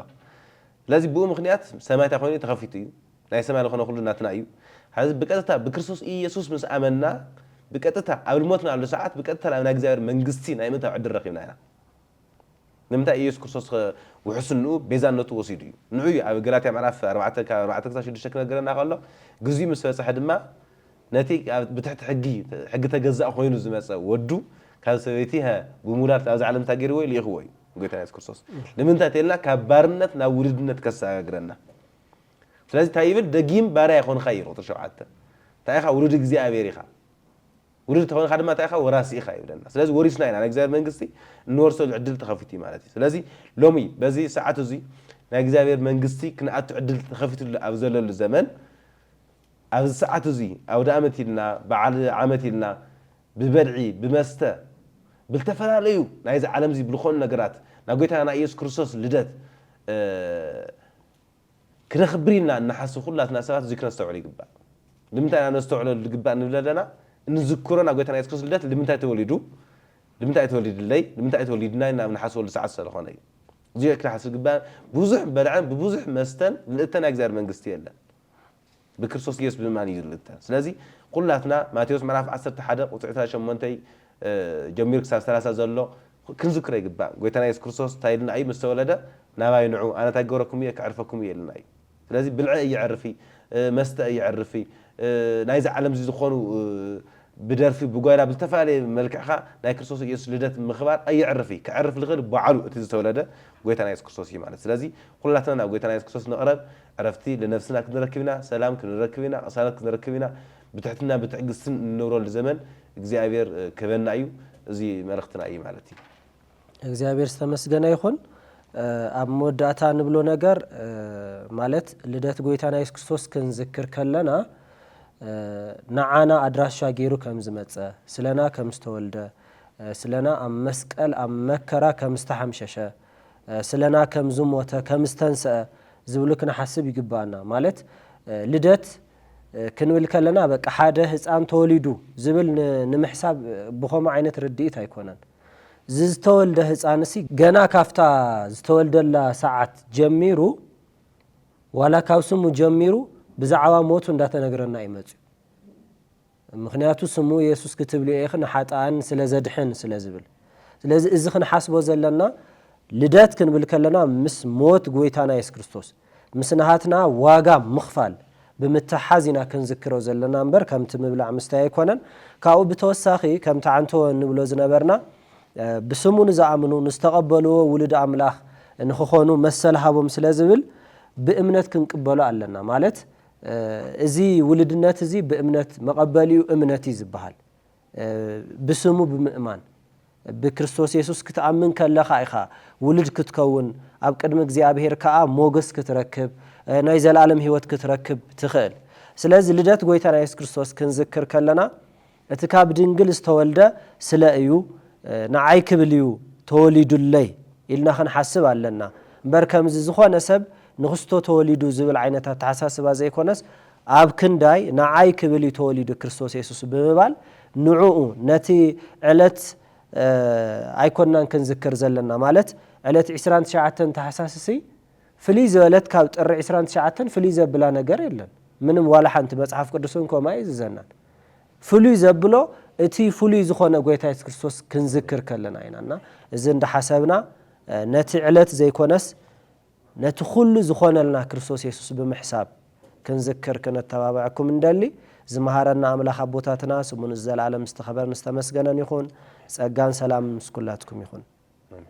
ስለዚ ብኡ ምኽንያት ሰማይ እንታይ ኮይኑ ተኸፊቱ እዩ፣ ናይ ሰማይ ልኾነ ኩሉ ናትና እዩ፣ ሐዚ ብቀጥታ ብክርስቶስ ኢየሱስ ምስ ኣመንና ብቀጥታ ኣብ ልሞትናሉ ሰዓት ብቀጥታ ናብ ናይ እግዚኣብሔር መንግስቲ ናይ ምእታው ዕድል ረኺብና ኢና። ንምንታይ ኢየሱስ ክርስቶስ ውሕስንኡ ቤዛነቱ ወሲዱ እዩ። ንዑ እዩ ኣብ ገላትያ ምዕራፍ ኣርባዕተ ካብ ኣርባዕተ ክሳብ ሽዱሽተ ክነግረና ከሎ ግዚኡ ምስ በጽሐ ድማ ነቲ ብትሕቲ ሕጊ ሕጊ ተገዛእ ኮይኑ ዝመጸ ወዱ ካብ ሰበይቲ ብምውላድ ኣብዛ ዓለም እንታይ ገርዎ እዩ ሊኢኽዎ እዩ። ጎይታና የሱስ ክርስቶስ ንምንታይ ተልና ካብ ባርነት ናብ ውሉድነት ከሰጋግረና ስለዚ እንታይ ይብል ደጊም ባርያ ይኾንኻ እዩ ቁጥሪ ሸውዓተ እንታይ ኢኻ ውሉድ እግዚኣብሔር ኢኻ ውሉድ ተኾንኻ ድማ እንታይ ኢኻ ወራሲ ኢኻ ይብለና ስለዚ ወሪስና ኢና ናይ እግዚኣብሔር መንግስቲ እንወርሰሉ ዕድል ተኸፊቱ እዩ ማለት እዩ ስለዚ ሎሚ በዚ ሰዓት እዙይ ናይ እግዚኣብሔር መንግስቲ ክንኣቱ ዕድል ተኸፊቱ ኣብ ዘለሉ ዘመን ኣብዚ ሰዓት እዚ ኣውደኣመት ኢልና በዓል ዓመት ኢልና ብበልዒ ብመስተ ብልተፈላለዩ ናይዚ ዓለም እዚ ብልኾኑ ነገራት ናይ ጎይታና ናይ ኢየሱስ ክርስቶስ ልደት ክነኽብር ኢልና እንሓስብ ኩላትና ሰባት እዚ ክነስተውዕል ይግባእ። ልምንታይ ኢና ነስተውዕለሉ ልግባእ ንብል ኣለና? እንዝክሮ ናይ ጎይታና ኢየሱስ ክርስቶስ ልደት ልምንታይ ተወሊዱ ልምንታይ እዩ ተወሊድለይ ልምንታይ እዩ ተወሊድናይ ኢልና ኣብ ንሓስበሉ ሰዓት ሰለኾነ እዩ። እዚ ክንሓስብ ዝግባእ ብዙሕ በልዐን ብብዙሕ መስተን ምልእተ ናይ እግዚኣብሔር መንግስቲ የለን። ብክርስቶስ ኢየሱስ ብምእማን እዩ ዝርግተ ስለዚ ኩላትና ማቴዎስ ምዕራፍ ዓሰርተ ሓደ ቁጽሪ ዕስራን ሸሞንተይ ጀሚሩ ክሳብ ሰላሳ ዘሎ ክንዝክሮ ይግባእ ጎይታና ኢየሱስ ክርስቶስ እንታይ ኢሉና እዩ ምስ ተወለደ ናባይ ንዑ ኣነ እንታይ ክገብረኩም እየ ከዕርፈኩም እየ ኢሉና እዩ ስለዚ ብልዐ እየዕርፊ መስተ እየዕርፊ ናይዚ ዓለም እዚ ዝኾኑ ብደርፊ ብጓይላ ብዝተፈላለየ መልክዕካ ናይ ክርስቶስ ኢየሱስ ልደት ምኽባር ኣየዕርፊ ከዕርፍ ዝኽእል ባዕሉ እቲ ዝተወለደ ጎይታና ኢየሱስ ክርስቶስ እዩ ማለት ስለዚ ኩላትና ናብ ጎይታና ኢየሱስ ክርስቶስ ንቕረብ ዕረፍቲ ንነፍስና ክንረክብ ኢና፣ ሰላም ክንረክብ ኢና፣ ቅሳነት ክንረክብ ኢና፣ ብትሕትናን ብትዕግስትን እንነብረሉ ዘመን እግዚኣብሔር ክህበና እዩ፣ እዚ መልእኽትና እዩ ማለት እዩ። እግዚኣብሔር
ዝተመስገነ ይኹን። ኣብ መወዳእታ ንብሎ ነገር ማለት ልደት ጎይታና የሱስ ክርስቶስ ክንዝክር ከለና ንዓና ኣድራሻ ገይሩ ከም ዝመጸ፣ ስለና ከም ዝተወልደ፣ ስለና ኣብ መስቀል ኣብ መከራ ከም ዝተሓምሸሸ፣ ስለና ከም ዝሞተ ከም ዝተንሰኣ ዝብሉ ክንሓስብ ይግበኣና ማለት ልደት ክንብል ከለና በቃ ሓደ ህጻን ተወሊዱ ዝብል ንምሕሳብ ብኸምኡ ዓይነት ርድኢት ኣይኮነን ዝዝተወልደ ህጻንሲ ገና ካብታ ዝተወልደላ ሰዓት ጀሚሩ ዋላ ካብ ስሙ ጀሚሩ ብዛዕባ ሞቱ እንዳተነግረና እዩ መጽዩ። ምኽንያቱ ስሙ የሱስ ክትብልዮ ኢኺ ንሓጥኣን ስለ ዘድሕን ስለ ዝብል። ስለዚ እዚ ክንሓስቦ ዘለና ልደት ክንብል ከለና ምስ ሞት ጎይታና የሱስ ክርስቶስ ምስ ናሃትና ዋጋ ምኽፋል ብምትሕሓዝ ኢና ክንዝክሮ ዘለና እምበር ከምቲ ምብላዕ ምስታይ ኣይኮነን። ካብኡ ብተወሳኺ ከምቲ ዓንተወ እንብሎ ዝነበርና ብስሙ ንዝኣምኑ ንዝተቐበልዎ ውሉድ ኣምላኽ ንኽኾኑ መሰል ሃቦም ስለ ዝብል ብእምነት ክንቅበሎ ኣለና ማለት እዚ ውሉድነት እዚ ብእምነት መቐበሊኡ እምነት እዩ ዝበሃል። ብስሙ ብምእማን ብክርስቶስ የሱስ ክትኣምን ከለኻ ኢኻ ውሉድ ክትከውን ኣብ ቅድሚ እግዚኣብሄር ከኣ ሞገስ ክትረክብ ናይ ዘለኣለም ህይወት ክትረክብ ትኽእል። ስለዚ ልደት ጎይታና የሱስ ክርስቶስ ክንዝክር ከለና እቲ ካብ ድንግል ዝተወልደ ስለ እዩ ንዓይ ክብል እዩ ተወሊዱለይ ኢልና ክንሓስብ ኣለና እምበር ከምዚ ዝኾነ ሰብ ንክስቶ ተወሊዱ ዝብል ዓይነት ኣተሓሳስባ ዘይኮነስ ኣብ ክንዳይ ንዓይ ክብል እዩ ተወሊዱ ክርስቶስ የሱስ ብምባል ንዑኡ ነቲ ዕለት ኣይኮናን ክንዝክር ዘለና ማለት ዕለት ዕስራን ትሽዓተን ታሕሳስሲ ፍልይ ዝበለት ካብ ጥሪ ዕስራን ትሽዓተን ፍልይ ዘብላ ነገር የለን ምንም ዋላ ሓንቲ መጽሓፍ ቅዱስን ከምኡ ኣየዝዘናን ፍሉይ ዘብሎ እቲ ፍሉይ ዝኾነ ጎይታ የሱስ ክርስቶስ ክንዝክር ከለና ኢና እና እዚ እንዳሓሰብና ነቲ ዕለት ዘይኮነስ ነቲ ኩሉ ዝኾነልና ክርስቶስ የሱስ ብምሕሳብ ክንዝክር ክነተባብዐኩም እንደሊ ዝመሃረና ኣምላኽ ኣቦታትና ስሙ ንዘለኣለም ዝተኸበረን ዝተመስገነን ይኹን ጸጋን ሰላምን ምስ ኩላትኩም ይኹን